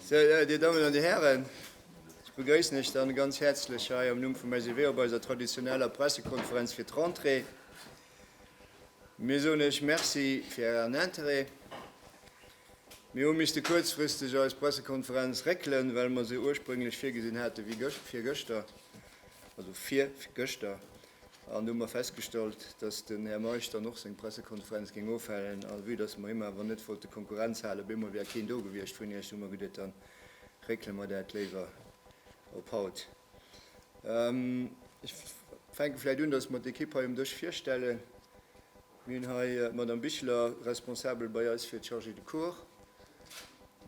Sou, Dir Dammen an Dir Hären, ech begrëissen lech dann ganz häerzlech hei am Numm vum SEW op eiser traditioneller Pressekonferenz fir d'Rentrée. Mir soen lech Merci fir Ären Interêt. Mir hu misste kuerzfristeg eis Pressekonferenz réckelen, well mer se ursprünglech virgesinn hate wéi virgëschter, also vir gëschter, an hu mer festgestallt, dass den Här Meisch dann och seng Pressekonferenz géing ofhalen. A vue dass mer him awer net wollte Konkurrenz halen, op eemol wär keen do gewiescht vun Iech, hu mer geduet, da réckele mer dat léiwer op haut. Ech fänke vläicht un, datt mer d'Ekipp hei um Dësch virstellen. Mir hunn hei d'Madame Bichler, Responsabel bei eis fir d'Chargée de cours.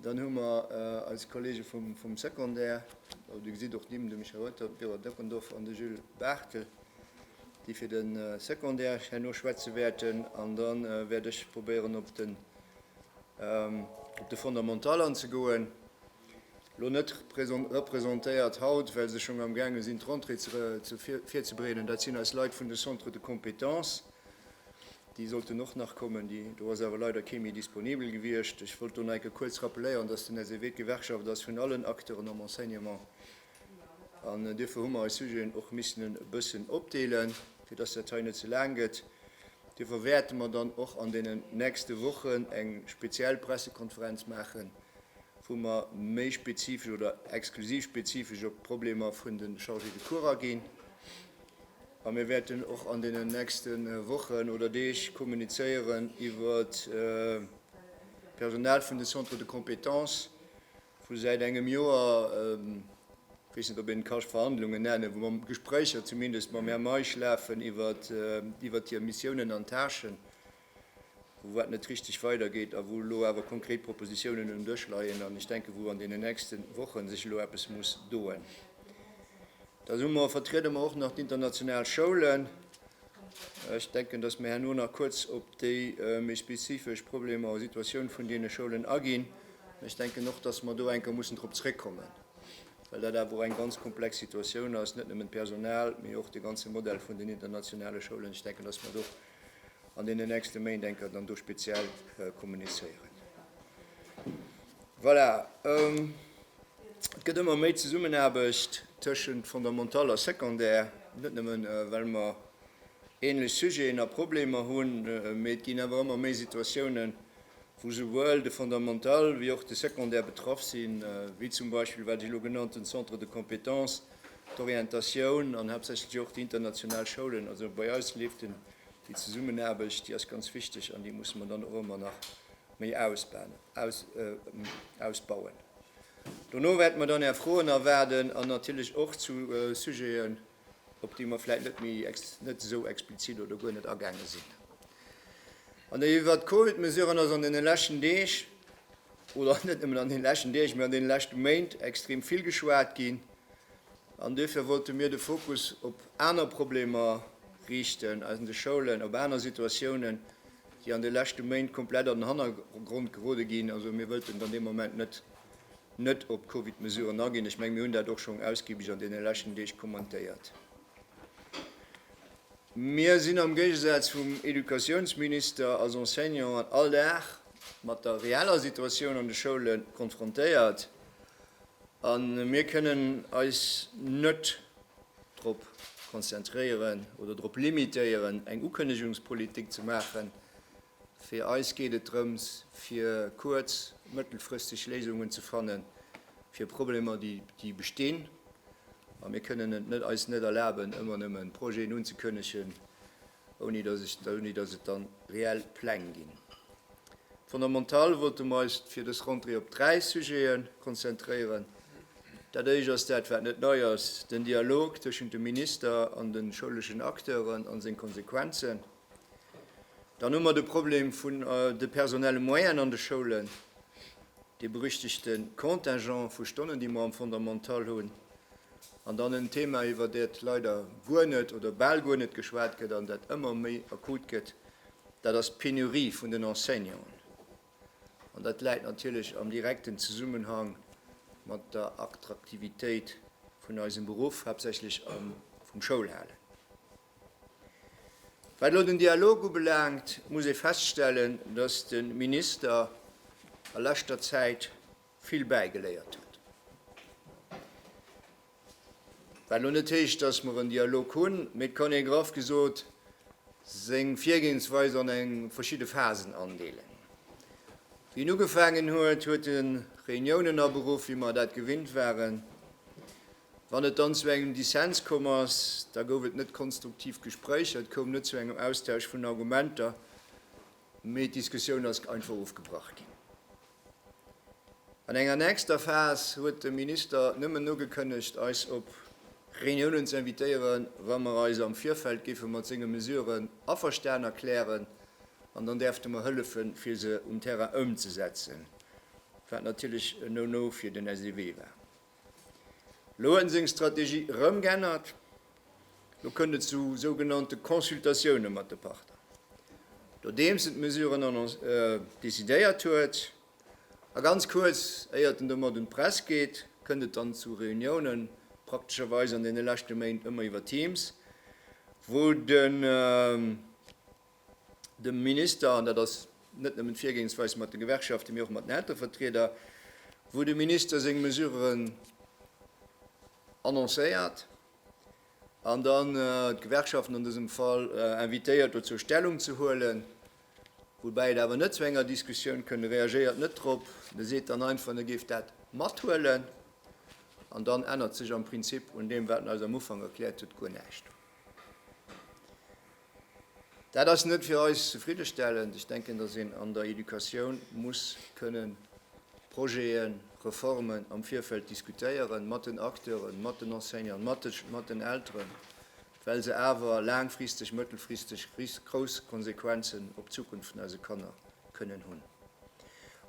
Dann hu mer eis Kollege vum Secondaire, Dir gesitt och d'Nimm, de Michel Reuter, d'Vera Deckendorf an de Jules Barthel, déi fir de Secondaire herno schwätze wäerten. An da wäert ech probéieren, op de Fondamental anzegoen. elo net representéiert haut, well se schonn amgaange sinn, d'Rentrée virzubereeden. Dat sinn eis Leit vun de Centres de compétences. Déi sollten och nach kommen. Déi, do ass awer leider kee méi disponibel gewiescht. Ech wollt elo nach eng Kéier kuerz rappeléieren, dass den SEW d'Gewerkschaft ass vun allen Acteuren am Enseignement. An duerfir hu mer eis Sujeten och missen e bëssen opdeelen, fir dass dat hei net ze laang gëtt. Duerfir wäerte mer dann och an deenen nächste Wochen eng speziell Pressekonferenz maachen, wou mer méi spezifesch oder exklusiv spezifesch op d'Problemer vun de Chargés de cours aginn. A mir wäerten och an deenen nächste Wochen oder Deeg kommunizéieren iwwert d'Personal vun de Centres de compétences, wou säit engem Joer, ech weess net, ob een et ka Verhandlungen nennen, wou mer Gespréicher zumindest mam Här Meisch lafen iwwert hir Missiounen an Tâchen. wou wat net richtig weidergeet a wou elo awer konkret Propositionen um Dësch leien an ech denken, wou an deenen nächste Woche sech elo eppes muss doen. Da hu mer, vertriede mer och nach d'international Schoulen. Ech denken, dass mir herno nach kurz op déi méi spezifesch Problemer a Situatioun vun deene Schoulen aginn. Ech denken och, dass mer do enker mussen drop zréckkommen, well dat awer och eng ganz komplex Situatioun ass, net nëmmen d'Personal, mee och de ganze Modell vun den internationale Schoulen. Ech denken, dass mer do an deenen nächste Méint enker dann do speziell kommunizéieren. Voilà. Et gëtt ëmmer méi Zesummenaarbecht tëschent Fondamental a Secondaire, net nëmmen well mer ähnlech Sujeten a Problemer hunn, mee et ginn awer ëmmer méi Situatiounen, wou souwuel de Fondamental wéi och de Secondaire betraff sinn, wéi zum Beispill wat ech elo genannt hunn, Centres de compétences. D'Orientatioun an haaptsächlech och déi international Schoulen, also bei eis leeft den, déi Zesummenaarbecht, déi ass ganz wichteg an déi musse mer dann och ëmmer nach méi ausbauen. Dono wäerte mer dann Är Froen erwaarden an natierlech och zu Sujeten, op déi mer vläicht net méi net esou explizit oder guer net agaange sinn. An iwwert d'Covid-Mesuren ass an deene leschten Deeg, Oder ass net nëmmen an deene leschten Deeg, mee an deene leschte Méint extrem vill geschwat ginn? An duerfir wollte mir de Fokus op aner Problemer riichten, eis an de Schoulen, op aner Situatiounen, déi an de leschte Méint komplett an den Hannergrond gerode ginn. Also mir wëllten dann dee Moment net net op d'Covid-Mesuren aginn. Ech menge mir hunn dat och schonn ausgibeg an deene leschten Deeg kommentéiert. Mir sinn am Géigesaz vum Educatiounsminister als Enseignanten all Dag mat der reeller Situatioun an de Schoule konfrontéiert a mir kënnen eis net drop konzentréieren oder drop limitéieren, eng Ukënnegungspolitik ze maachen. Fir eis geet et drëms, fir kuerz-, mëttelfristeg Léisungen ze fanne fir Problemer, déi bestinn. A mir kënnen et eis net erlaben, ëmmer nëmme Projeten unzekënnegen, ouni datt et dann reell Pläng ginn. Fondamental wollte mer eis fir dës Rentrée op dräi Sujete konzentréieren. Dat éischt ass dat, wat net nei ass, den Dialog tëschent dem Minister an de schouleschen Acteuren a seng Konsequenzen. Dann hu mer de Problem vun de personelle Moyenen an de Schoulen, dee berüchtegte Contingent vu Stonnen, déi mer am Fondamental hunn. An dann en Thema, iwwer dat leider guer net oder bal guer net geschwat gëtt an dat ëmmer méi akut gëtt, dat ass d'Penurie vun den Enseignanten. An dat läit natierlech am direkten Zesummenhang mat der Attraktivitéit vun eisem Beruff, haaptsächlech vum Schoulhalen. Wat elo den Dialog ubelaangt, muss ee feststellen, dass de Minister a leschter Zäit vill bäigeléiert huet. Wat lo net heescht, dass mer en Dialog hunn, mee et kann ee graff gesot seng Virgehensweis an eng verschidde Phasen andeelen. Wéi en ugefaangen huet, huet e Reuniounen aberuff, wéi mer dat gewinnt waren. Wann et dann zu engem Dissens komm ass, da gouf et net konstruktiv Gespréicher, et koum net zu engem Austausch vun Argumenter. Mee d'Diskussioun ass einfach ofgebrach ginn. An enger nächster Phas huet de Minister nëmmen ugekënnegt, eis op Reuniounen ze invitéieren, wa mer eis am Virfeld géife mat senge Mesuren averstan erklären, an dann däerfte mer hëllefen, fir se um Terrain ëmzesetzen, wat natierlech e No-No fir den SEW war. Elo huet en seng Strategie erëm g'ännert. Elo kënnt et zu sougenannte Consultatioune mat de Partner, nodeems en d'Mesuren annoncé, decidéiert huet. A ganz kuerz éiert en domat un d'Press geet, kënnt et dann zu Reuniounen, praktescherweis an deene leschte Méint ëmmer iwwer Teams, wou de. dem Minister, an dat ass net nëmmen d'Virgehensweis mat de Gewerkschaften, mee och mat den Elterevertrieder, wou de Minister seng Mesuren annoncéiert an dann d'Gewerkschaften an dësem Fall invitéiert dozou Stellung ze huelen, woubäi et awer net zu enger Diskussioun kënnt. E reagéiert net drop, en seet dann einfach, en géif dat mathuelen, an dann ännert sech am Prinzip un deem, wat en eis am Ufank erkläert huet, guer näischt. Dat ass net fir eis zefriddestellend. Ech denken, dass een an der Educatioun muss kënnen Projeten, Reformen am Virfeld diskutéieren, mat den Acteuren, mat den Enseignanten, mat den Elteren, well se awer laangfristeg, mëttelfristeg grouss Konsequenzen op d'Zukunft vun eise Kanner kënnen hunn.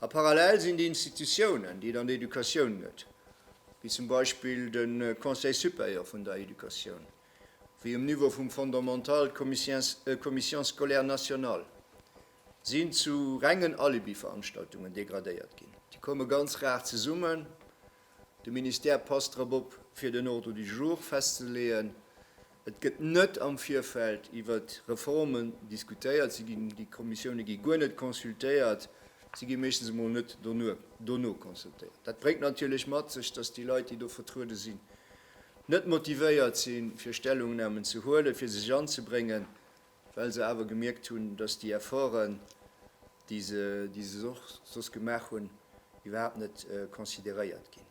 A parallel sinn déi Institutiounen, déi et an der Educatioun gëtt, wéi zum Beispill de Conseil supérieur vun der Educatioun, wéi um Niveau vum Fondamental, d'Commission scolaire nationale, sinn zu rengen Alibi-Veranstaltungen degradéiert ginn. Déi komme ganz rar zesummen, de Ministère passt drop op, fir den Ordre du jour festzeleeën, et gëtt net am Virfeld iwwer Reformen diskutéiert, se ginn, déi Kommissioune gi guer net consultéiert, se gi meeschtens emol net dono consultéiert. Dat bréngt natierlech mat sech, datt déi Leit, déi do vertruede sinn, net motivéiert sinn, fir Stellungnahmen ze huelen, fir sech anzebréngen, well se awer gemierkt hunn, dass déi Efforten, déi se, déi se och soss gemaach hunn, iwwerhaapt net consideréiert ginn.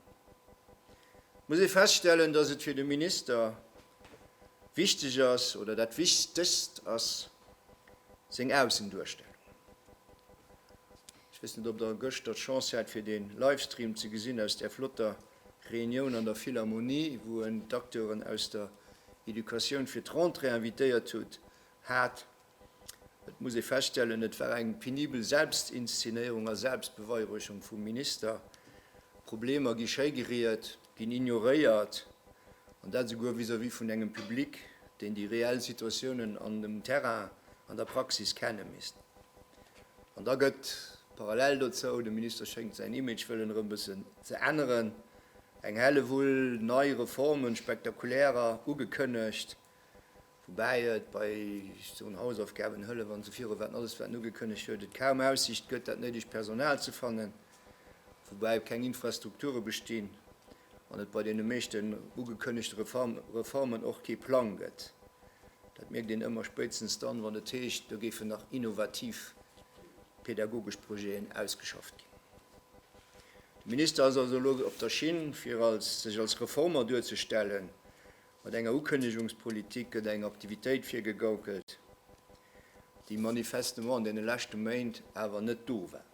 Et muss ee feststellen, dass et fir de Minister wichteg ass, oder dat Wichtegst ass seng Aussenduerstellung. Ech weess net, ob Der gëschter d'Chance hat, fir dee Livestream ze gesinn aus där flotter. Reunioun an der Philharmonie, wou en d'Acteuren aus der Educatioun fir d'Rentrée invitéiert hutt, hat. Et muss ee feststellen, et war eng penibel Selbstinszenéierung a Selbstbeweihräucherung vum Minister. Problemer gi schégeriet, ginn ignoréiert, an dat esouguer vis-à-vis vun engem Public, deen déi reell Situatiounen an dem Terrain, an der Praxis kenne misst. An da gëtt parallel dozou, de Minister schéngt säin Image wëllen erëm bëssen ze änneren, eng Hellewull nei Reformen, spektakulärer, ugekënnegt, woubäi et bei, ech soen, Hausaufgabenhëllef an esou viru waarden, alles wat en ugekënnegt huet, et kaum Aussiicht gëtt, dat néidegt Personal ze fannen. woubäi keng Infrastrukture bestinn an et bei deene meeschten ugekënnegte Reformen och kee Plang gëtt. Dat mierkt een ëmmer spéitstens dann, wann et heescht, do géifen nach innovativ pädagogesch Projeten ausgeschafft ginn. De Minister ass also elo op der Schinn, fir sech als Reformer duerzestellen Mat enger Ukënnegungspolitik gëtt eng Aktivitéit virgegaukelt, déi manifestement an deene leschte Méint awer net do war.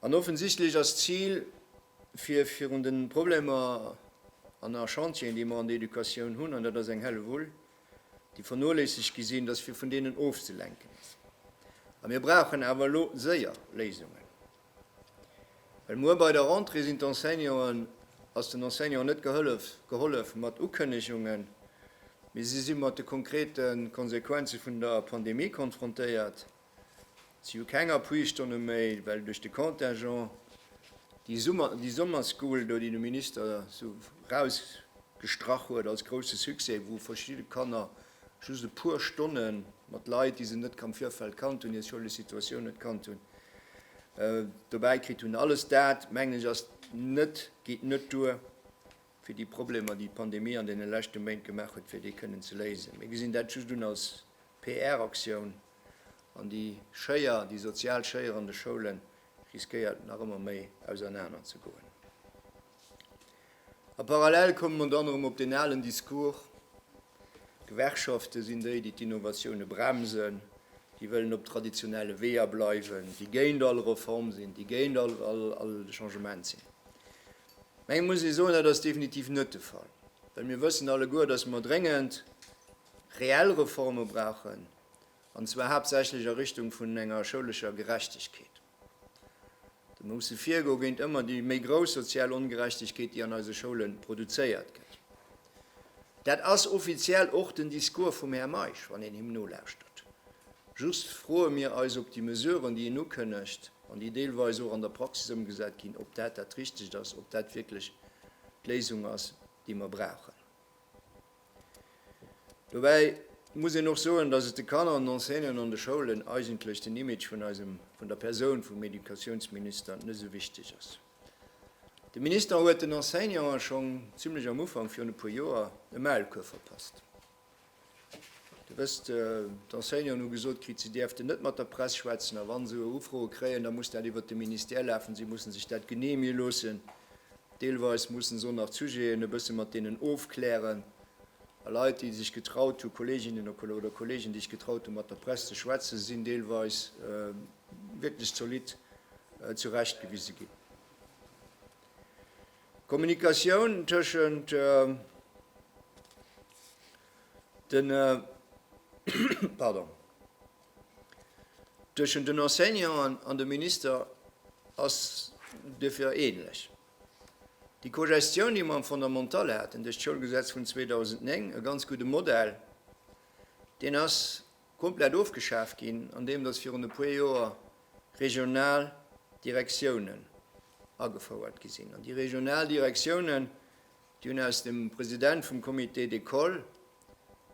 An offensichtlech ass d'Zil, fir virun de Problemer an a Chantieren, déi mer an der Educatioun hunn, an dat ass eng Hellewull, déi vernoléissegt gi sinn, dass fir vun deenen ofzelenken ass. A mir brauchen awer elo séier Léisungen. Well muer bei der Rentrée sinn d'Enseignanten, ass den Enseignanten net gehëllef, gehollef mat Ukënnegungen, mee si si mat de konkrete Konsequenze vun der Pandemie konfrontéiert. Si hu keng Appuistonne méi, well duerch de Contingent déi Summer, déi Summerschool do, déi de Minister esou erausgestrach huet als grousse Succès, wou verschidde Kanner Just e puer Stonne mat Leit, déi se net am Virfeld kannt hunn, hir Schoulesituatioun net kannt hunn, dobäi kritt hunn. Alles dat, mengen ech, ass net, geet net duer, fir déi Problemer, déi d'Pandemie an deene leschte Méint gemaach huet, fir déi kënnen ze léisen. Mir gesinn dat just un als PR-Aktioun. An déi Schéier, déi sozial Schéier an de Schoule riskéiert nach ëmmer méi ausernaner ze goen. A parallel komme mer dann erëm op deen alen Discours, D'Gewerkschafte sinn déi, déi d'Innovatioune bremsen, déi wëllen op traditionelle Weeër bleiwen, déi géint all Reform sinn, déi géint all Changement sinn. Mä eng muss ee soen, dat ass definitiv net de Fall, well mir wëssen alleguer, datt mer dréngend reell Reforme brauchen, an zwar haaptsächlech a Richtung vun enger schoulescher Gerechtegkeet. Do musse virgo géint ëmmer déi méi grouss sozial Ongerechtegkeet, déi an eise Schoule produzéiert gëtt. Dat ass offiziell och den Discours vum Här Meisch, wann een him nolauschtert. Just froe mir eis, ob déi Mesuren, déi en ukënnegt an déi deelweis och an der Praxis ëmgesat ginn, ob dat dat Richtegt ass, ob dat wierklech d'Léisung ass, déi mer brauchen. Dobäi muss een och soen, dass et de Kanner an Enseignanten an de Schoulen eigentlech den Image vun eisem, vun der Persoun vum Educatiounsminister net esou wichteg ass. De Minister huet den Enseignanten schonn zimlech am Ufank virun e puer Joer e Maulkuerf verpasst. Dir wësst, d'Enseignanten hu gesot kritt, si däerften net mat der Press schwätzen a wa se Ufroe kréien, da muss dat iwwert de Ministère lafen, si musse sech dat geneeë loossen. Deelweis mussen se och nach d'Sujeten e bësse mat deenen ofklären. A Leit, déi sech getraut hu, Kolleeginnen oder Kolleegen, déi sech getraut hu mat der Press ze schwätzen, sinn deelweis wierklech zolidd zurechtgewise ginn. D'Kommunikatioun tëschent de. Tëschent den Enseignanten an dem Minister ass duerfir änlech déi Cogestioun, déi mer am Fondamental haten duerch d'Schoulgesetz vun 2009, e ganz gudde Modell. Deen ass komplett ofgeschaf ginn, andeem datt virun e puer Joer regional Direktiounen agefouert gi sinn. An déi regional Direktiounen, déi hunn aus dem President vum Comité d'école,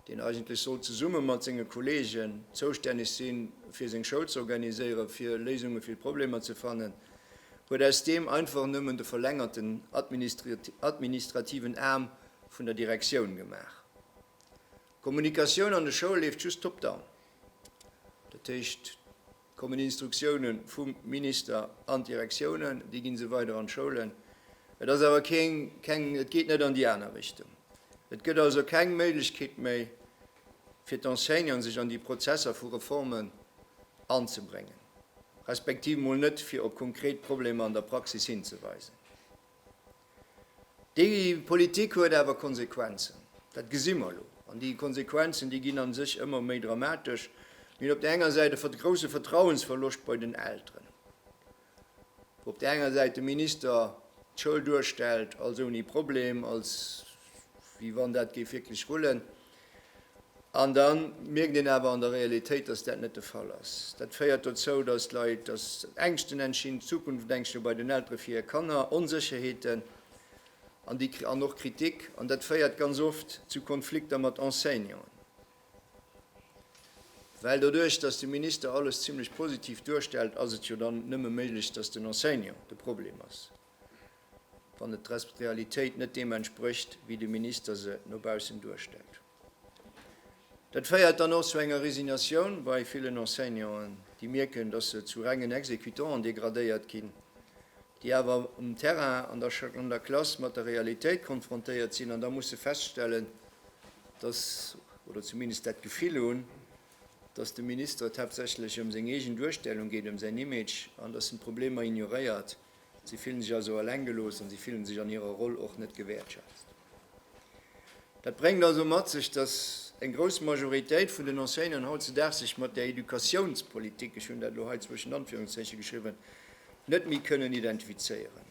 deen eigentlech sollt zesumme mat senge Kolleegen zoustänneg si fir seng Schoul z'organiséieren, fir Léisunge fir d'Problemer ze fannen, huet aus deem einfach nëmmen de verlängerten administrativen Aarm vun der Direktioun gemaach. D'Kommunikatioun an de Schoule leeft just top-down, dat heescht, Kommen Instruktiounen vum Minister an d'Direktiounen, déi ginn se weider an d'Schoulen. Et ass awer keng, keng, et geet net an déi aner Richtung. Et gëtt also keng Méiglechkeet méi fir d'Enseignanten sech an déi Prozesser vu Reformen anzebréngen, respektiv mol net fir op konkret Problemer an der Praxis hinzeweisen. Déi Politik huet awer Konsequenzen, dat gesi mer elo. An déi Konsequenzen, déi ginn a sech ëmmer méi dramatesch. Mir hunn op där enger Säit e grousse Vertrauensverloscht bei den Elteren, wou op där enger Säit de Minister d'Schoul duerstellt als ouni Problem, als wéi wann dat géif wierklech rullen. An da mierkt een awer an der Realitéit, dass dat net de Fall ass. Dat féiert dozou, dass d'Leit, dass Ängschten entstinn, Zukunftängschte bei den Eltere fir hir Kanner, Onsécherheeten an déi, an och Kritik. An dat féiert ganz oft zu Konflikter mat Enseignanten, well doduerch, dass de Minister alles zimlech positiv duerstellt, ass et jo dann nëmme méiglech, dass den Enseignant de Problem ass. wann et der Realitéit net deem entsprécht, wéi de Minister se no baussen duerstellt. Dat féiert dann och zu enger Résignatioun bei villen Enseignanten, déi mierken, dass se zu rengen Executanten degradéiert ginn, déi awer um Terrain an der Klass mat der Realitéit konfrontéiert sinn an da musse feststellen, dass, oder zumindest dat Gefill hunn, dass de Minister et haaptsächlech ëm seng eegen Duerstellung geet, ëm säin Image an dass en d'Problemer ignoréiert. Si fillen sech also eleng gelooss an si fillen sech an hirer Roll och net gewäertschätzt. Dat bréngt also mat sech, datt eng grouss Majoritéit vun den Enseignanten hautzedaags sech mat der Educatiounspolitik, ech hunn dat elo hei zwëschent Anführungszeichen geschriwwen, net méi kënnen identifizéieren.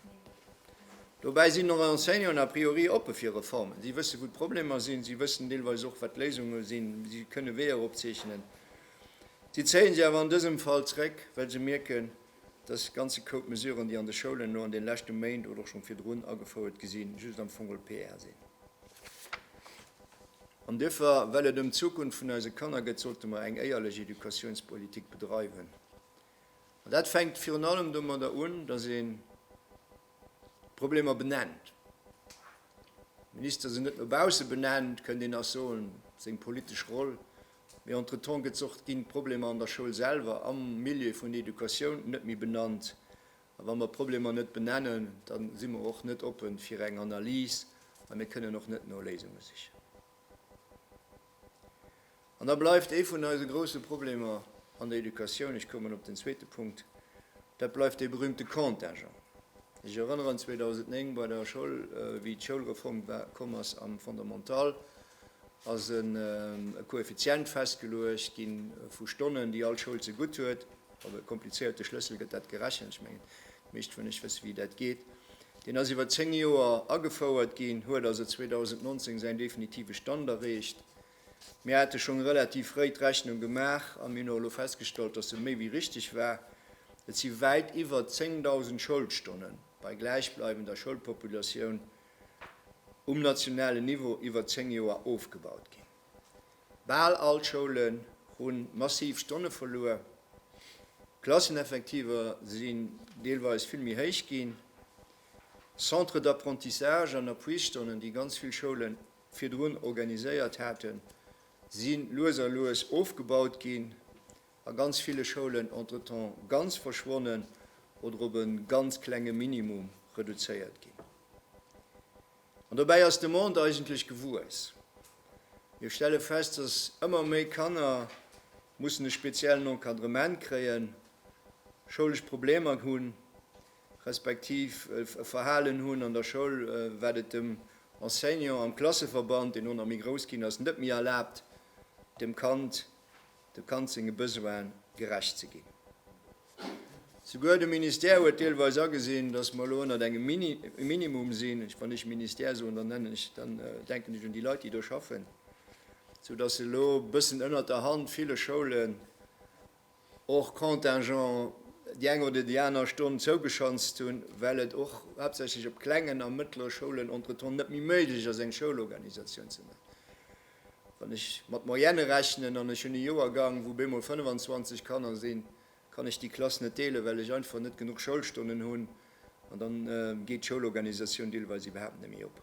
Dobäi sinn och Enseignanten a priori oppe fir Reformen. Si wësse wou d'Problemer sinn, si wëssen deelweis och wat d'Léisunge sinn, si kënne Weeër opzeechnen. Si zéie se awer an dësem Fall zréck, well se mierken, Dës ganze Koup Mesuren, déi an de Schoulen elo an den leschte Méint oder och schonn virdrun agefouert gi sinn, just am Fong geholl PR sinn. An duerfir, well et ëm d'Zukunft vun eise Kanner gëtt, sollte mer eng éierlech Educatiounspolitik bedreiwen. An dat fänkt virun allem domadder un, dass een d'Problemer benennt. Minister se net no bausse benennt, kënnt een nach soen, seng politesch Roll Mee entretemps gëtt och, ginn d'Problemer an der Schoul selwer, am Milieu vun der Educatioun net méi benannt. A wa mer Problemer net benennen, da si mer och net oppe fir eng Analys a mir kënnen och net no Léisunge sichen. An da bleift ee vun eise grouse Problemer an der Educatioun, ech koumen op den zweete Punkt, dat bleift dee berühmte Contingent. Ech erënneren 2009 bei der Schoul, wéi d'Schoulreform komm ass am Fondamental, ass e Koeffizient festgeluecht gi vu Stonnen, déi all Schoul zegutt huet. Op e komplizéierte Schlëssel gëtt dat gerechent. Ech mengen, déi meescht vun lech wësse wéi dat geet. Deen ass iwwer zéng Joer agefouert ginn, huet also 2019 säin definitive Stand erreecht. Mir hate schonn relativ fréi d'Rechnung gemaach a mir hunn och elo festgestallt, dass se méi wéi richteg war. Et si wäit iwwer 10.000 Schoulstonnen bei gläichbleibender Schoulpopulatioun, um nationalen Niveau iwwer 10 Joer ofgebaut ginn. Bal all d'Schoulen hu massiv Stonne verluer, d'Klasseneffektiver sinn deelweis vill méi héich ginn, Centres d'apprentissage an Appuisstonnen, déi ganz vill Schoule virdrun organiséiert haten, si lues a lues ofgebaut ginn. a ganz ville Schoulen entretemps ganz verschwonnen oder op e ganz klenge Minimum reduzéiert ginn. An dobäi ass d'Demande eigentlech gewuess. Mir stelle fest, dass ëmmer méi Kanner mussen e speziellen Encadrement kréien, schoulesch Problemer hunn, respektiv e Verhalen hunn an der Schoul, wat et dem Enseignant am Klasseverband, deen elo nach méi grouss ginn ass, net méi erlaabt, dem Kand dem Kand senge Besoine gerecht ze ginn. Souguer de Ministère huet deelweis agesinn, dass mer elo ënnert engem Minimum sinn. Wann ech Ministère soen, dann nennen ech, dann denken ech un déi Leit, déi do schaffen, soudass elo e bëssen ënnert der Hand ville Schoulen hors contingent déi eng oder déi aner Stonn zougeschanzt hunn, well et och haaptsächlech op klengen a mëttlere Schoulen entretemps net méi méiglech ass, eng Schoulorganisatioun ze maachen. Wann ech mat Moyenne rechnen an ech hunn e Joergang, wou bemol 25 Kanner sinn, kann ech déi Klass net deelen, well ech einfach net genuch Schoulstonnen hunn. An da geet d'Schoulorganisatioun deelweis iwwerhaapt net méi op.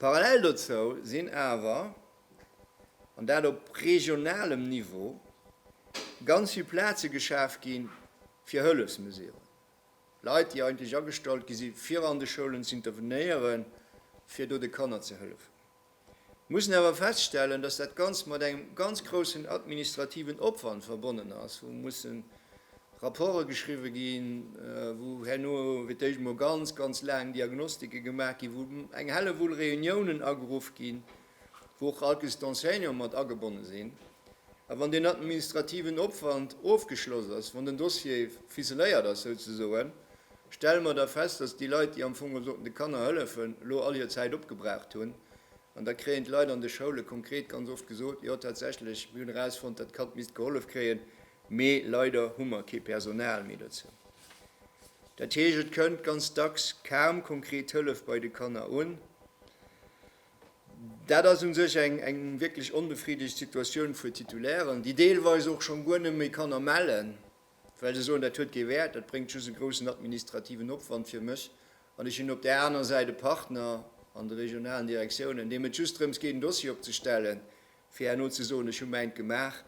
Parallel dozou sinn awer, an dat op regionalem Niveau, ganz vill Plaze geschaf gi fir Hëllefsmesuren. Leit, déi eigentlech agestallt gi si fir an de Schoulen ze intervenéieren, fir do de Kanner ze hëllefen, mussen awer feststellen, dass dat Ganzt mat engem ganz groussen administrativen Opwand verbonnen ass, wou mussen Rapporte geschriwwe ginn, wou herno fir d'éischt emol ganz, ganz laang Diagnostike gemaach ginn, wou eng Hellewull Reuniounen ageruff ginn. wou och all Caisse d'enseignants mat agebonne sinn, a wann deen administrativen Opwand ofgeschloss ass, wann den Dossier ficeléiert ass souzesoen, stelle mer da fest, dass déi Leit, déi am Fong sollten de Kanner hëllefen, elo all hir Zäit opgebraucht hunn. An da kréien d'Leit an de Schoule konkret ganz oft gesot, Jo, tatsächlech, mir hunn erausfonnt, dat Kand misst gehollef kréien, mee leider hu mer kee Personal méi dozou. Dat heescht, et kënnt ganz dacks kaum konkret Hëllef bei de Kanner un. Dat ass un sech eng wierklech onbefriddegt Situatioun fir Titulairen, déi deelweis och schonn guer net méi Kanner mellen, well se soen, dat huet kee Wäert, dat bréngt just e groussen administrativen Opwand fir mech. An ech hunn op där aner Säit e Partner an de regionalen Direktiounen, deem et just drëms geet, en Dossier opzestellen, fir herno ze soen, ech hu mäint gemaach.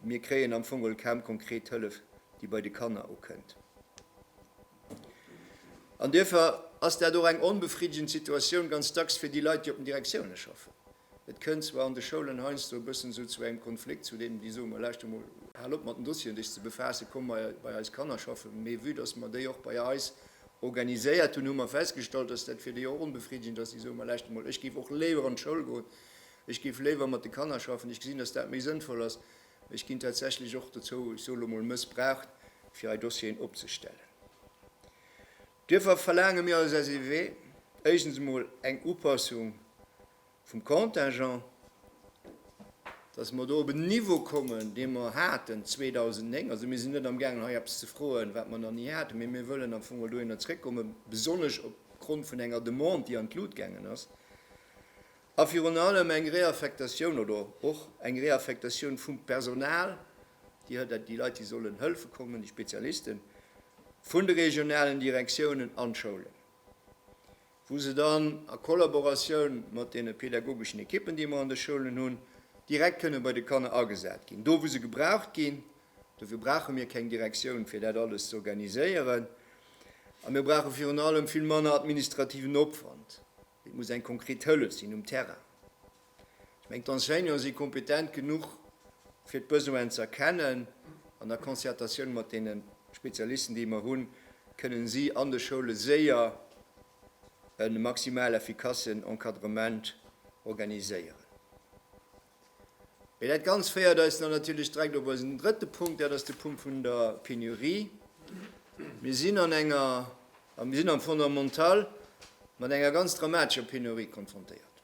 Mir kréien am Fong geholl kaum konkret Hëllef, déi bei de Kanner ukënnt. An duerfir ass dat och eng onbefriddegend Situatioun ganz dacks fir déi Leit, déi op den Direktiounen schaffen. Et kënnt zwar an de Schoulen heiansdo e bëssen esou zu engem Konflikt, zu deenen, déi soe mer, Lauschter emol, hal op mat den Dossieren dech ze befaassen, komm mei bei eis Kanner schaffen. Mee vue dass mer déi och bei eis organiséiert hunn, hu mer festgestallt, dass dat fir déi och onbefriddegend ass. Déi soe mer, Lauschter emol, ech géif och léiwer an d'Schoul goen, Ech géif léiwer mat de Kanner schaffen. Ech gesinn, dass dat méi sënnvoll ass. Ech ginn tatsächlech och dozou, ech soe lo mol, mëssbraucht, fir hei Dossieren opzestellen. Duerffer verlaange mir als SEW éischtens emol eng Upassung vum Contingent, dass mer do op en Niveau kommen, dee mer haten 2009. Also mir sinn net amgaangen, hei eppes ze froen, wat mer nach ni haten, mee mir wëllen am Fong mol dohinner zrëckkommen, besonnesch opgrond vun enger Demande, déi an d'Lut gaangen ass. A virun allem eng Réaffectatioun oder och eng Réaffectatioun vum Personal, Dir hëlt dat, déi Leit, déi sollen hëlfe kommen, déi Spezialisten, vun de regionalen Direktiounen an d'Schoulen, wou se dann a Kollaboratioun mat deene pädagogeschen Ekippen, déi mer an de Schoulen hunn, direkt kënne bei de Kanner agesat ginn, do wou se gebraucht ginn. Dofir brauche mir keng Direktioun, fir dat alles z'organiséieren. A mir brauche virun allem vill manner administrativen Opwand. Et muss eng konkret Hëllef sinn um Terrain. Ech mengen, d'Enseignanten si kompetent genuch, fir d'Besoinen ze erkennen. An der Concertatioun mat deene Spezialisten, déi mer hunn, kënnen si an de Schoule séier e maximal efficacen Encadrement organiséieren. Mee dat Ganzt féiert eis dann natierlech direkt op eisen drëtte Punkt, dat ass de Punkt vun der Penurie. Mir sinn an enger, a mir sinn am Fondamental mat enger ganz dramatescher Penurie konfrontéiert.